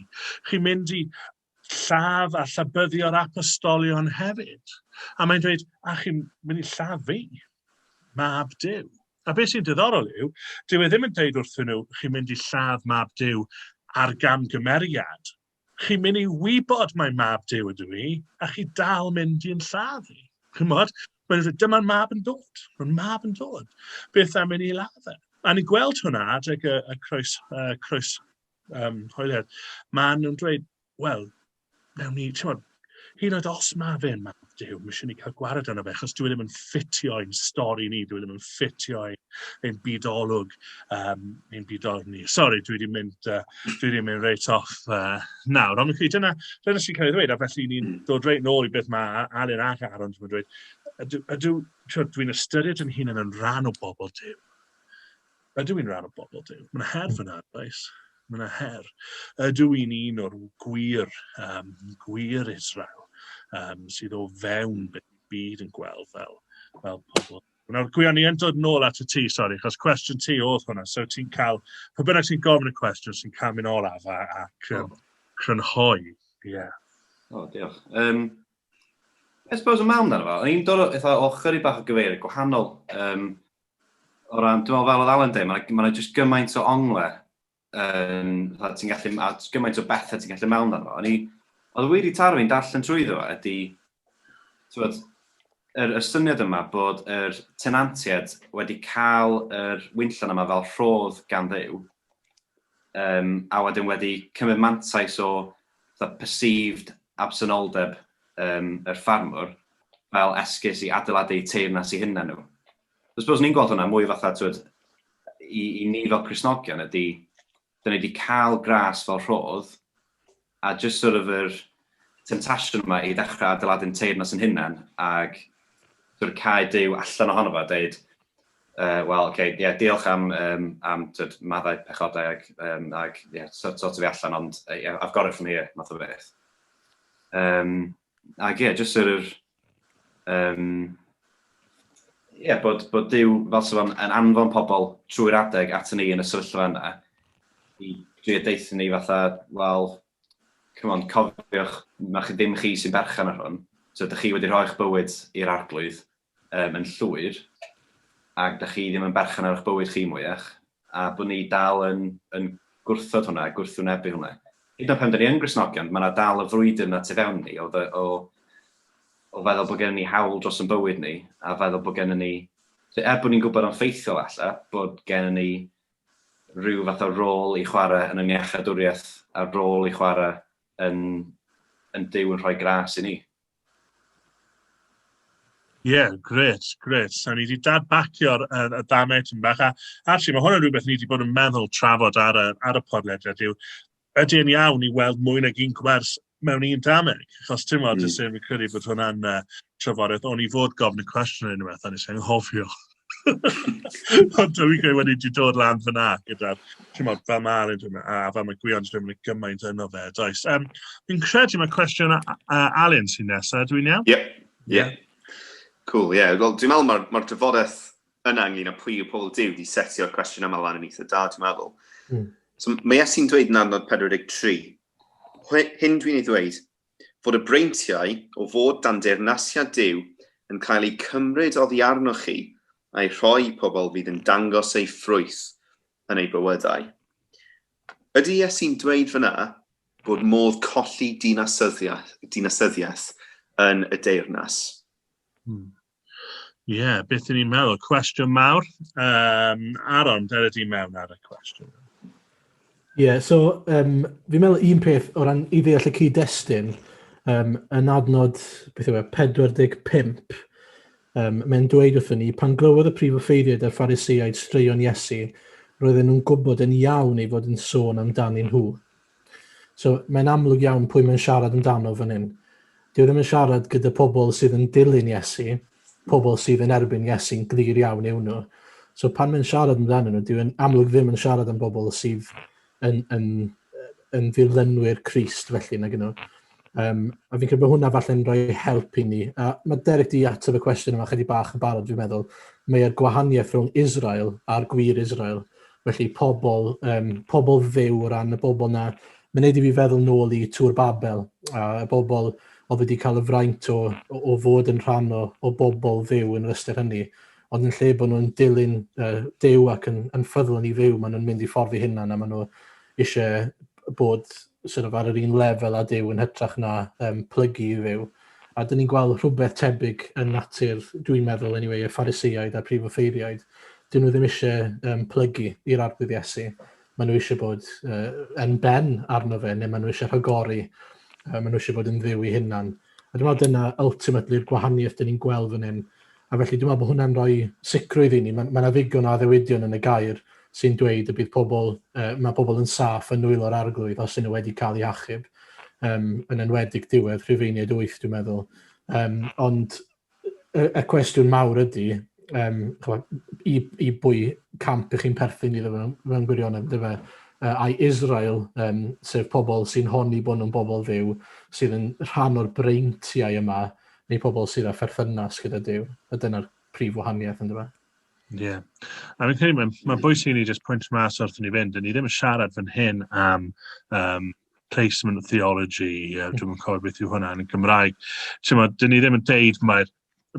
Chi'n mynd i lladd a llabyddio'r apostolion hefyd. A mae'n dweud, a chi'n mynd i lladd fi, mab Dyw. A beth sy'n diddorol yw, dyw e ddim yn dweud wrthyn nhw, chi'n mynd i lladd mab Dyw ar gamgymeriad Chi'n mynd i wybod mai mab Duw ydw i, a chi dal mynd i'n lladd i. Chymod? Mae'n dweud, dyma'r mab yn dod. Mae'r mab yn dod. Beth am mynd i ladd e? A ni'n gweld hwnna adeg y, y croes, uh, croes um, hoeliad. Mae nhw'n dweud, wel, newn ni, ti'n modd, Hyd yn oed os ma' fe'n Mab Duw, ma' isie ni cael gwared arno fe, achos dyw e ddim yn ffitio i'n stori ni, dyw e ddim yn ffitio ein, ein bydolwg, um, ein bydolwg ni. Sori, dwi wedi mynd, uh, dwi wedi mynd reit off uh, nawr. Ond chi, dyna, dyna sy'n cael ei ddweud, a felly ni'n hmm. dod reit nôl i beth mae Alun ac Aaron yn dweud. Ydw, ydw dwi'n ystyried yn hun yn rhan o bobl Dyw. Ydw i'n rhan o bobl Duw? Mae yna her fyna, does? Mae yna her. Ydw i'n un o'r gwir, um, gwir Israel um, sydd o fewn beth y byd yn gweld fel, fel pobl Nawr, Gwion, i yn dod nôl at y ti, sori, chos cwestiwn ti oedd hwnna. So ti'n cael, pa bynnag sy'n gofyn y cwestiwn, sy'n cael mynd olaf a, ac um, crynhoi. Ie. Yeah. O, oh, diolch. Um, I suppose y mam dan fel, i'n dod o, eitha, o chyri bach o gyfeiriad gwahanol. Um, O ran, dwi'n meddwl fel oedd Alan dweud, mae yna ma just gymaint o ongle, um, ti'n gallu, a gymaint o bethau ti'n gallu mewn arno. O'n i, oedd y wir i taro fi'n darllen trwy ddo ydy, tywed, yr, y syniad yma bod yr tenantiaid wedi cael yr wynllon yma fel rhodd gan ddew, um, a wedyn wedi cymryd mantais o fatha perceived absenoldeb yym yr ffarmwr fel esgus i adeiladu eu teyrnas i hunan nhw. So I suppose ni'n gweld hwnna mwy fatha t'wod i i ni fel Cristnogion ydy, da ni wedi cael gras fel rhodd a just sort of yr temptasiwn yma i ddechrau adeiladu'n teyrnas yn hunan ag sort of cau Duw allan ohono fo a deud Yy wel ok ie diolch am yym am t'od maddau pechodau ag yym ag ie so- sortio fi allan ond yy ie I've got it from here math o beth. Yym ag ie jyst yr yr yym ie bod bod Duw fel sa fo'n yn anfon pobl trwy'r adeg aton ni yn y sefyllfa yna i drio deutho ni fatha wel come on cofiwch ma' chi dim chi sy'n berchen ar hwn so dych chi wedi rhoi'ch bywyd i'r arglwydd yym yn llwyr ac dach chi ddim yn berchen ar eich bywyd chi mwyach a bod ni dal yn yn gwrthod hwnna a gwrthwynebu hwnna. Hyd yn oed pan dyn ni yn Gristnogion mae 'na dal y frwydr 'na tu fewn ni o fe- o o feddwl bod gennym ni hawl dros ein bywyd ni a feddwl bod gennym ni so er bod ni'n gwybod yn ffeithiol alla bod gennym ni rhyw fath o rôl i chwarae yn yng ngiachadwriaeth a'r rôl i chwarae yn yn Duw yn rhoi gras i ni. Ie, gret, gret. So, ni wedi dadbacio'r uh, y damau tyn bach. A, actually, mae hwnna'n rhywbeth ni wedi bod yn meddwl trafod ar y, ar y podlediad yw, ydy yn iawn i weld mwy nag un gwers mewn un dameg. Achos ti'n meddwl, mm. sy'n credu bod hwnna'n uh, trafodaeth, ond i fod gofyn y cwestiwn yn unwaith, a nes i'n hofio. Ond dwi'n gwneud wedi di dod lan fyna gyda'r, ti'n modd, fel ma'n yn dyna, a fel mae Gwion yn mynd gymaint yno fe, does. Um, fi'n credu mae cwestiwn Alun sy'n nesaf, dwi'n iawn? Ie, ie. Cool, ie. Yeah. Wel, dwi'n meddwl mae'r ma dyfodaeth yna ynglyn â pwy yw pobl diw di setio'r cwestiwn yma lan yn eitha da, dwi'n meddwl. Mm. So, mae Iesu'n dweud yn adnod 43, hyn dwi'n ei ddweud, fod y breintiau o fod dan deyrnasiad Duw yn cael eu cymryd oddi arnoch chi a'u rhoi i pobl fydd yn dangos eu ffrwyth yn eu bywydau. Ydy Iesu'n dweud fan'na bod modd colli dinasyddiaeth, dinasyddiaeth yn y deyrnas? Hmm. Ie, yeah, beth ni'n meddwl? Cwestiwn mawr. Um, Aron, dyna di mewn ar y cwestiwn. Ie, yeah, so um, fi'n meddwl un peth o ran i ddeall y cyd-destun, um, yn adnod, beth yw e, 45, um, mae'n dweud wrthyn ni, pan glywodd y prif offeiriad a'r ffariseiaid straeon Iesu, roedden nhw'n gwybod yn iawn ei fod yn sôn amdanyn nhw. So, mae'n amlwg iawn pwy mae'n siarad amdano fan hyn. Dyw e ddim yn siarad gyda pobl sydd yn dilyn Iesu, pobl sydd yn erbyn Iesu'n glir iawn yw nhw. So pan mae'n siarad amdano nhw, dyw e'n amlwg ddim yn siarad am bobl sydd yn, yn, yn ddilynwyr Christ felly nag nhw. Um, a fi'n credu bod hwnna falle'n rhoi help i ni. A mae Derek di ateb y cwestiwn yma chydig bach yn barod, dwi'n meddwl. Mae'r gwahaniaeth rhwng Israel a'r gwir Israel. Felly pobl, um, pobl fyw o ran y bobl na. Mae'n neud i fi feddwl nôl i Tŵr Babel, a y bobl oedd wedi cael y fraint o, o fod yn rhan o, o bobl fyw yn yr ystyr hynny. Ond yn lle bod nhw'n dilyn uh, dew ac yn, yn ffyddlon i fyw, maen nhw'n mynd i ffordd i hynna, a maen nhw eisiau bod sort of ar yr un lefel â Duw yn hytrach na um, plygu i Dduw. A dyn ni'n gweld rhywbeth tebyg yn natur, dwi'n meddwl, anyway, y phariseiaid a'r prif offeiriaid. Dyn nhw ddim eisiau um, plygu i'r arbydd Iesu. Maen nhw eisiau bod uh, yn ben arno fe, neu maen nhw eisiau rhagori. Uh, maen nhw eisiau bod yn ddiw i hunan. A dwi'n meddwl dyna ultimately yr gwahaniaeth dyn ni'n gweld fan hyn. A felly dwi'n meddwl bod hwnna'n rhoi sicrwydd i ni. Mae yna ddigon o addewidion yn y gair sy'n dweud y bydd pobl, uh, mae pobl yn saff yn nwylo'r arglwydd os yn nhw wedi cael eu hachub, um, yn enwedig diwedd Rhufeiniaid 8 dwi'n meddwl. Um, ond y y cwestiwn mawr ydy yym ch'mod i i bwy camp 'ych chi'n perthyn iddo fe mewn gwirionedd yndyfe? Yy ai Israel yym sef pobl sy'n honni bo' nhw'n bobl Dduw sydd yn rhan o'r breintiau yma neu pobl sydd â pherthynas gyda Duw a dyna'r prif wahaniaeth yndyfe? Ie. Yeah. A fi'n credu mae'n ma bwysig i ni jyst pwynt mas wrth i ni fynd, 'dyn ni ddim yn siarad fan hyn am um, placement of theology, uh, dwi'n yn cofio beth yw hwnna yn Gymraeg. Ti'n ma, dyn ni ddim yn deud mae'r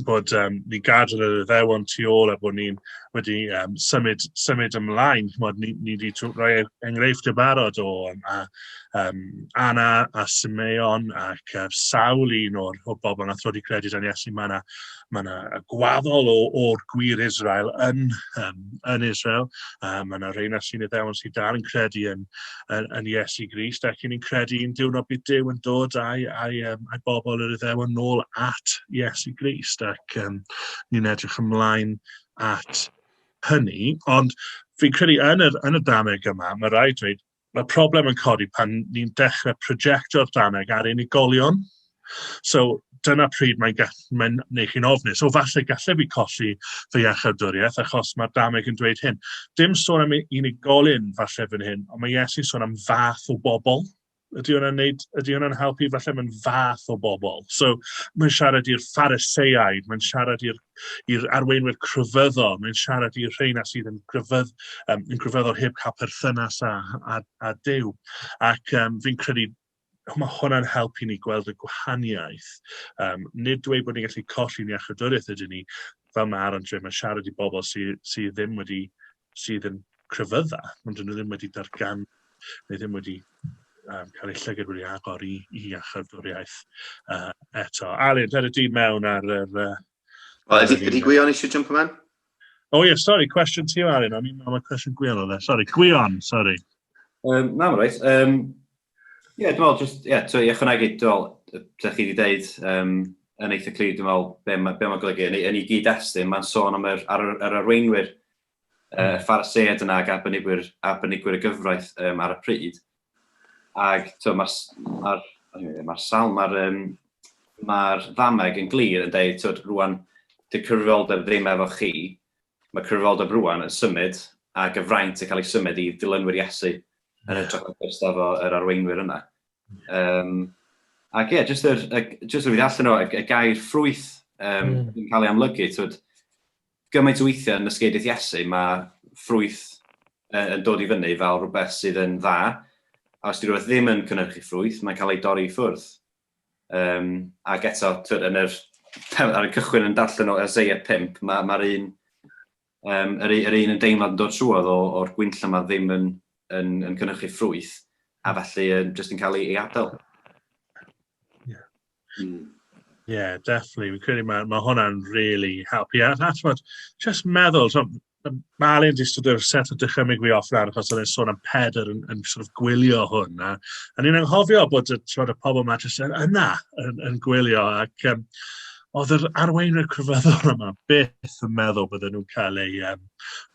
bod um, ni gadw yr iddewon tu ôl a bod ni'n wedi um, symud, symud ymlaen. Chymod, ni, ni wedi rhoi enghreifftiau barod o um, a, um, Anna a Simeon ac uh, sawl un o'r o bobl nath wedi credu dan Iesu. Mae yna mae yna gwaddol o, o'r gwir Israel yn, um, yn Israel. Uh, mae yna rhain ar sy'n ddewon sydd dal yn credu yn, yn, yn Iesu Grist ac yn credu yn diwrnod bydd Dyw yn dod a'i, a'i, um, a'i bobl yr iddewon nôl at Iesu Grist ac um, ni'n edrych ymlaen at hynny. Ond fi'n credu yn y, yn y dameg yma, mae rhaid dweud, Mae'r problem yn codi pan ni'n dechrau projectio'r Ffrangeg ar unigolion. So, dyna pryd mae'n gall- mae'n neu' chi'n ofnus, o falle galle fi colli fy iachawdwriaeth achos mae'r dameg yn dweud hyn. Dim sôn am unigolyn falle fan hyn, ond mae Iesu'n sôn am fath o bobl. Ydy hwnna'n neud ydy hwnna'n helpu? Falle mae'n fath o bobl. So, mae'n siarad i'r Phariseaid, mae'n siarad i'r i'r arweinwyr crefyddol, mae'n siarad i'r rheina sydd yn, grefydd, um, yn grefyddol heb cael perthynas â, â, â Dyw. Ac um, fi'n credu mae hwnna'n helpu ni gweld y gwahaniaeth. Um, nid dweud bod ni'n gallu colli'n iachydwriaeth ydyn ni, fel mae Aaron dweud, mae siarad i bobl sydd sy ddim wedi sydd yn crefydda, ond dyn nhw ddim wedi dargan, neu ddim wedi um, cael eu llygad wedi agor i, i achardwriaeth uh, eto. Alun, dyna di mewn ar yr... Uh, well, ydy, ydy Gwion eisiau jump yma? O oh, ie, yeah, sori, cwestiwn ti o Alun, o'n i'n meddwl cwestiwn Gwion o dde. Sori, Gwion, sori. Um, na, mae'n rhaid. Um, Ie, yeah, dwi'n meddwl, just, yeah, to, i ychwanegu, dwi'n meddwl, ydych chi wedi dweud um, yn eitha clir, dwi'n meddwl, be, ma, be mae'n golygu. Yn, yn ei gyd-destun, mae'n sôn am yr, ar, ar arweinwyr Pharisêaid yna ac arbenigwyr, arbenigwyr y gyfraith um, ar y pryd. Ac mae'r ma ma salm, mae'r um, ma ddameg yn glir yn dweud, twyd, rwan, dy cyfrifoldeb ddim efo chi, mae cyfrifoldeb rwan yn symud a gyfraint yn cael ei symud i dilynwyr Iesu yn y trafodus efo yr arweinwyr yna. Um, ac ie, yeah, jyst yr, just rwy'n allan o, y, y gair ffrwyth um, mm. yn cael ei amlygu, twyd, Gymaint o weithiau yn nysgeidydd Iesu mae ffrwyth yn dod i fyny fel rhywbeth sydd yn dda, a os 'di rhywbeth ddim yn cynhyrchu ffrwyth, mae'n cael ei dorri i ffwrdd. Um, ac eto, twyd, yn yr, ar y cychwyn yn darllen o Isaiah 5, mae'r ma un, um, yr, yr un yn deimlad yn dod trwodd o'r gwynt lle mae ddim yn, yn, yn cynhyrchu ffrwyth, a felly yn, jyst yn cael ei, ei adael. Mm. Yeah, definitely. Fi'n credu mae, mae hwnna'n really helpu. A, a ti'n just meddwl, so, Malin di sort of set o dychymyg fi off lan, achos oedd e'n sôn am Pedr yn, yn sort of gwylio hwn. A, a ni'n anghofio bod y, y pobl yma jyst yn, yna yn, yn gwylio. Ac um, oedd yr arweinwyr crefyddol yma beth yn meddwl bydden nhw'n cael eu, um,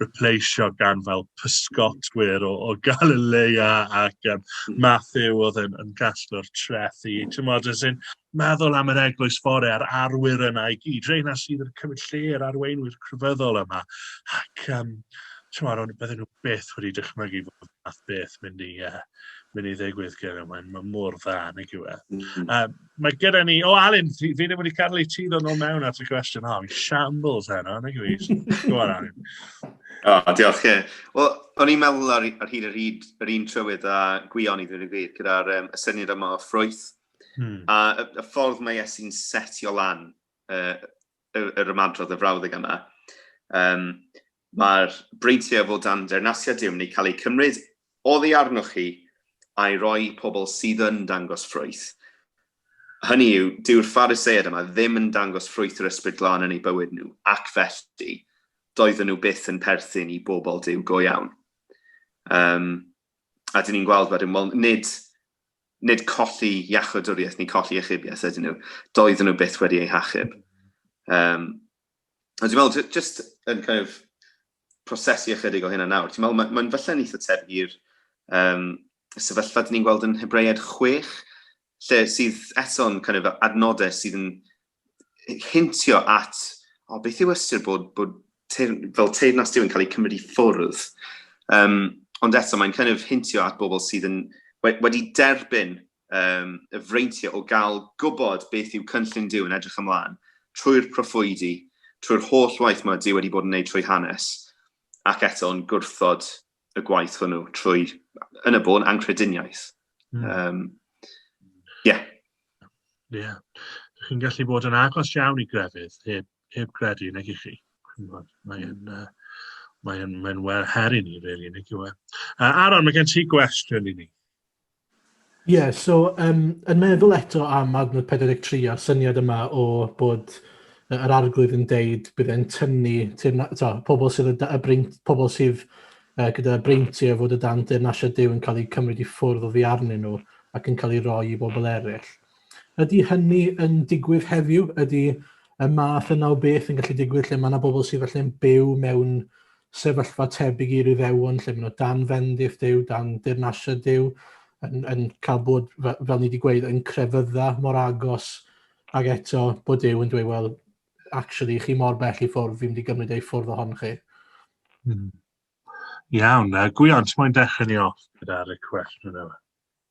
repleisio gan fel pysgotwyr o, o Galilea ac um, Matthew oedd yn, yn casglu'r treth i. Ti'n modd, sy'n meddwl am yr eglwys fore a'r arwyr yna i gyd. Reina sydd yn cymryd lle yr arweinwyr crefyddol yma. Ac, um, ti'n modd, ond bydden nhw beth wedi dychmygu fod math beth mynd i, uh, mynd i ddigwydd gyda. Mae'n ma mor dda, nag yw e. Mm -hmm. um, Mae gyda ni... O, Alun, fi, fi ddim wedi cadw i ti ddod nôl mewn at y cwestiwn. O, fi'n shambles heno, nag i fi. Go on, Alun. O, oh, diolch, ie. Yeah. Wel, o'n i'n meddwl ar, ar hyd yr hyd yr un trywydd a gwion i ddyn i fyd, gyda'r um, y syniad yma o ffrwyth. Hmm. A y, y ffordd mae Iesu'n setio lan uh, yr ymadrodd y frawddeg yma. Um, Mae'r breintiau o dan Deyrnasiad Duw Wedi cael eu cymryd oddi arnoch chi a'i roi i pobl sydd yn dangos ffrwyth. Hynny yw, dyw'r Phariseaid yma ddim yn dangos ffrwyth yr Ysbryd Glân yn eu bywyd nhw, ac felly, doedden nhw byth yn perthyn i bobl Duw go iawn. Um, a dyn ni'n gweld wedyn, wel, nid, nid colli iachawdwriaeth neu colli achubiaeth ydyn nhw. Doedden nhw byth wedi eu hachub. Um, A dwi'n meddwl, just yn kind of prosesu ychydig o hynna nawr, ti'n meddwl, mae'n ma falle'n eitha tebyg i'r um, sefyllfa dyn ni'n gweld yn Hebread 6, lle sydd eto'n kind of adnodau sydd yn hintio at, o, oh, beth yw ystyr bod, bod teir, fel teirnas diw'n cael ei cymryd i ffwrdd. Um, ond eto, mae'n kind of hintio at bobl sydd yn, wedi derbyn um, y freintiau o gael gwybod beth yw cynllun Dyw yn edrych ymlaen trwy'r proffwydi, trwy'r holl waith mae Dyw wedi bod yn gwneud trwy hanes, ac eto yn gwrthod y gwaith hwnnw trwy, yn y bôn, ancrediniaeth. Mm. Um, yeah. Ie. Yeah. Chi'n gallu bod yn agos iawn i grefydd heb heb gredu, nag i chi. Mae'n uh, mae mae well her i ni, really, nag yw e. Uh, Aaron, mae gen ti gwestiwn i ni. Ie, yeah, so um, yn meddwl eto am adnod 43 a'r syniad yma o bod yr arglwydd yn deud bydd e'n tynnu to, pobl sydd, y, y breint, pobl sydd uh, gyda breinti o fod y dan deyrnasiad Dyw yn cael eu cymryd i ffwrdd o fi arnyn nhw ac yn cael ei roi i bobl eraill. Ydy hynny yn digwydd heddiw? Ydy y math yna o beth yn gallu digwydd lle mae yna bobl sydd falle'n byw mewn sefyllfa tebyg i'r Iddewon, lle maen nhw dan fendith Duw, dan dirnasiad Duw, yn, yn cael bod, fel ni wedi gweud, yn crefydda mor agos, ac eto bod Duw yn dweud, wel, actually, chi mor bell i ffwrdd, fi'n mynd i gymryd ei ffwrdd ohon chi. Hmm. Iawn, uh, gwion, ti'n mwyn dechrau ni off gyda'r cwestiwn yma?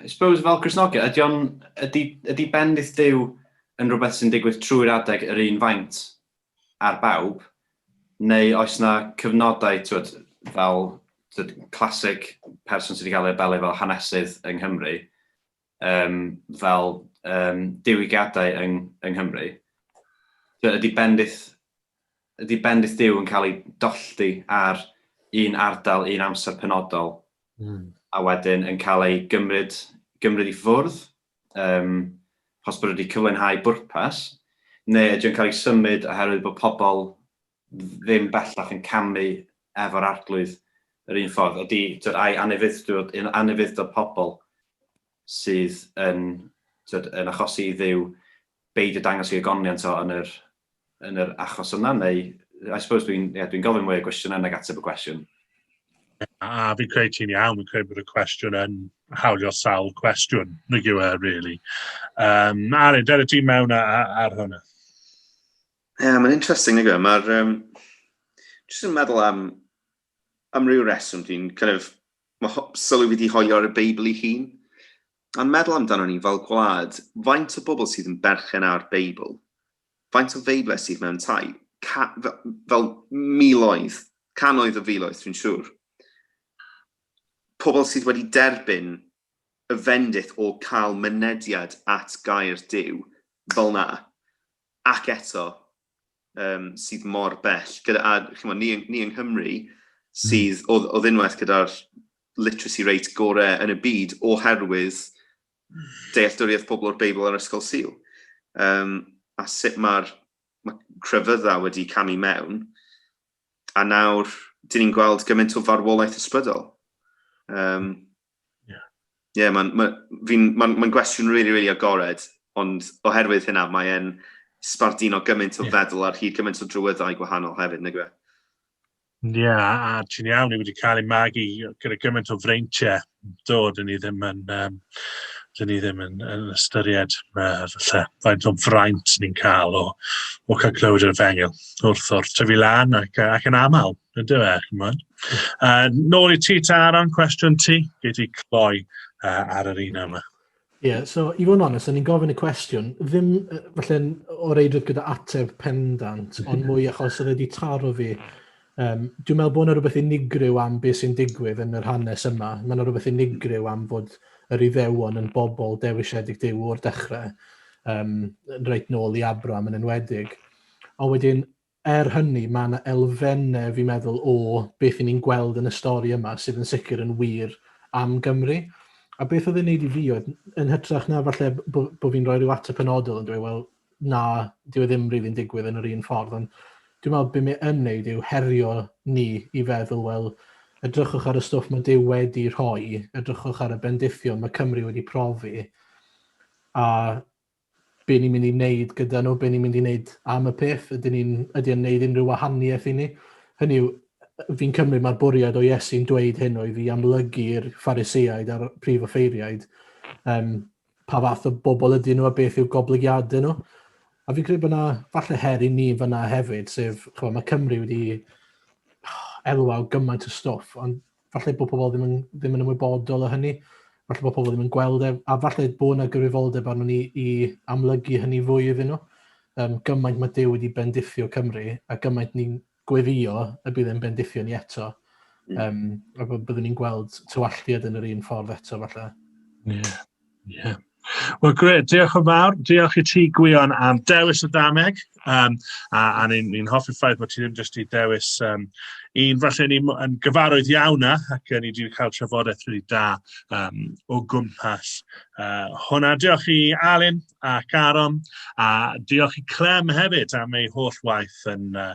I suppose fel Christnogion, ydy, on, ydy, ydy bendith Dyw yn rhywbeth sy'n digwydd trwy'r adeg yr un faint ar bawb, neu oes na cyfnodau, twyd, fel twyd, classic person sydd wedi cael ei abelu fel hanesydd yng Nghymru, um, fel um, diwygiadau yng, yng Nghymru, twyd, ydy bendith Ydy bendith Duw yn cael ei dollti ar un ardal, un amser penodol, mm. a wedyn yn cael ei gymryd, gymryd i ffwrdd, um, os bod wedi cyflenhau bwrpas, neu ydy o'n cael ei symud oherwydd bod pobl ddim bellach yn camu efo'r arglwydd yr un ffordd. Ydy, tyd, ai anefuddod, anefuddod pobl sydd yn, tyd, yn achosi i ddiw beidio dangos i agoniant o yn yr, yn yr achos yna neu I suppose dwi'n yeah, dwi gofyn mwy o gwestiynau nag ateb y cwestiwn. A fi'n credu ti'n iawn, fi'n credu bod y cwestiwn yn hawlio sawl cwestiwn, nag yw e, really. Um, Arin, dyna ti mewn ar, ar hwnna. Ie, yeah, mae'n interesting, nag yw e. Mae'r... Um, just yn meddwl am, am ryw reswm dwi'n kind of... Mae sylwi wedi hoelio ar y Beibl i hun. Ond meddwl amdanon ni fel gwlad, faint o bobl sydd yn berchen ar Beibl? Faint o Feibledd sydd mewn tai? Ca- fe- fel miloedd, cannoedd o filoedd, dwi'n siŵr. Pobl sydd wedi derbyn y fendith o cael mynediad at gair Duw fel na. Ac eto, um, sydd mor bell, gyda, a chymod, ni, ni yng Nghymru, hmm. sydd mm. o, o ddunwaith gyda'r literacy rate gorau yn y byd oherwydd dealltwriaeth pobl o'r Beibl a'r Ysgol Sil. Um, a sut mae'r ma crefydda wedi camu mewn, a nawr, dyn ni'n gweld gymaint o farwolaeth ysbrydol. Um, Yeah. Yeah, mae'n ma, ma, ma gwestiwn rili, really, really agored, ond oherwydd hynna mae'n sbarduno gymaint o yeah. feddwl ar hyd gymaint o drywyddau gwahanol hefyd, nag yw e? Ie, yeah, a ti'n iawn, ni wedi cael ei magu gyda gymaint o freintiau dod, yn ni ddim yn, um, dyn ni ddim yn, yn ystyried uh, falle, faint o fraint ni'n cael o, o cael clywed yr efengyl wrth o'r tyfu lan ac, ac yn aml, Ydy fe, chymod. Uh, nôl i ti, Taron, cwestiwn ti. Gei ti cloi uh, ar yr un yma. Ie, yeah, so i fod yn onest, o'n i'n gofyn y cwestiwn, ddim falle o reidrwydd gyda ateb pendant, ond mwy achos oedd wedi taro fi. Um, dwi'n meddwl bod yna rhywbeth unigryw am beth sy'n digwydd yn yr hanes yma. Mae yna rhywbeth unigryw am fod yr iddewon yn bobl dewisiedig dew o'r dechrau, um, reit nôl i Abram yn enwedig. Ond wedyn, Er hynny, mae yna elfennau, fi'n meddwl, o beth y'n ni'n gweld yn y stori yma sydd yn sicr yn wir am Gymru. A beth oedd e'n neud i fi oedd, yn hytrach na falle bo, bo fi'n rhoi rhyw ateb penodol yn dweud, wel, na, dyw e ddim rili'n digwydd yn yr un ffordd, ond dwi'n meddwl be mae yn neud yw herio ni i feddwl, wel, edrychwch ar y stwff mae Duw wedi rhoi, edrychwch ar y bendithion mae Cymru wedi profi, a Be ni'n mynd i wneud gyda nhw, be ni'n mynd i wneud am y peth, ydyn ni'n... ydy o'n wneud unrhyw wahaniaeth i ni? Hynny yw, fi'n cymryd mai'r bwriad o Iesu'n dweud hyn oedd i amlygu i'r Phariseaid a'r prif offeiriaid um, pa fath o bobl ydyn nhw a beth yw goblygiadau nhw. A fi'n credu bod yna falle her i ni fyna hefyd, sef, chwa, mae Cymru wedi elwa o gymaint o stwff, ond falle bod pobl ddim yn, ddim yn ymwybodol o hynny, falle bod pobl ddim yn gweld e, a falle bod yna gyfrifoldeb arno ni i amlygu hynny fwy iddyn nhw. Um, gymaint mae Dyw wedi bendithio Cymru, a gymaint ni'n gweddio y bydd e'n bendithio ni eto. Um, a byddwn ni'n gweld tywalltiad yn yr un ffordd eto, falle. Yeah. Ie. Wel gret, diolch yn fawr. Diolch i ti Gwion am dewis y dameg. Um, a a ni'n ni hoffi'r ffaith bod ti ddim jyst i dewis um, un falle ni yn gyfarwydd iawn â ac ni wedi cael trafodaeth rili da um, o gwmpas uh, hwnna. Diolch i Alun ac Aron a diolch i Clem hefyd am ei holl waith yn uh,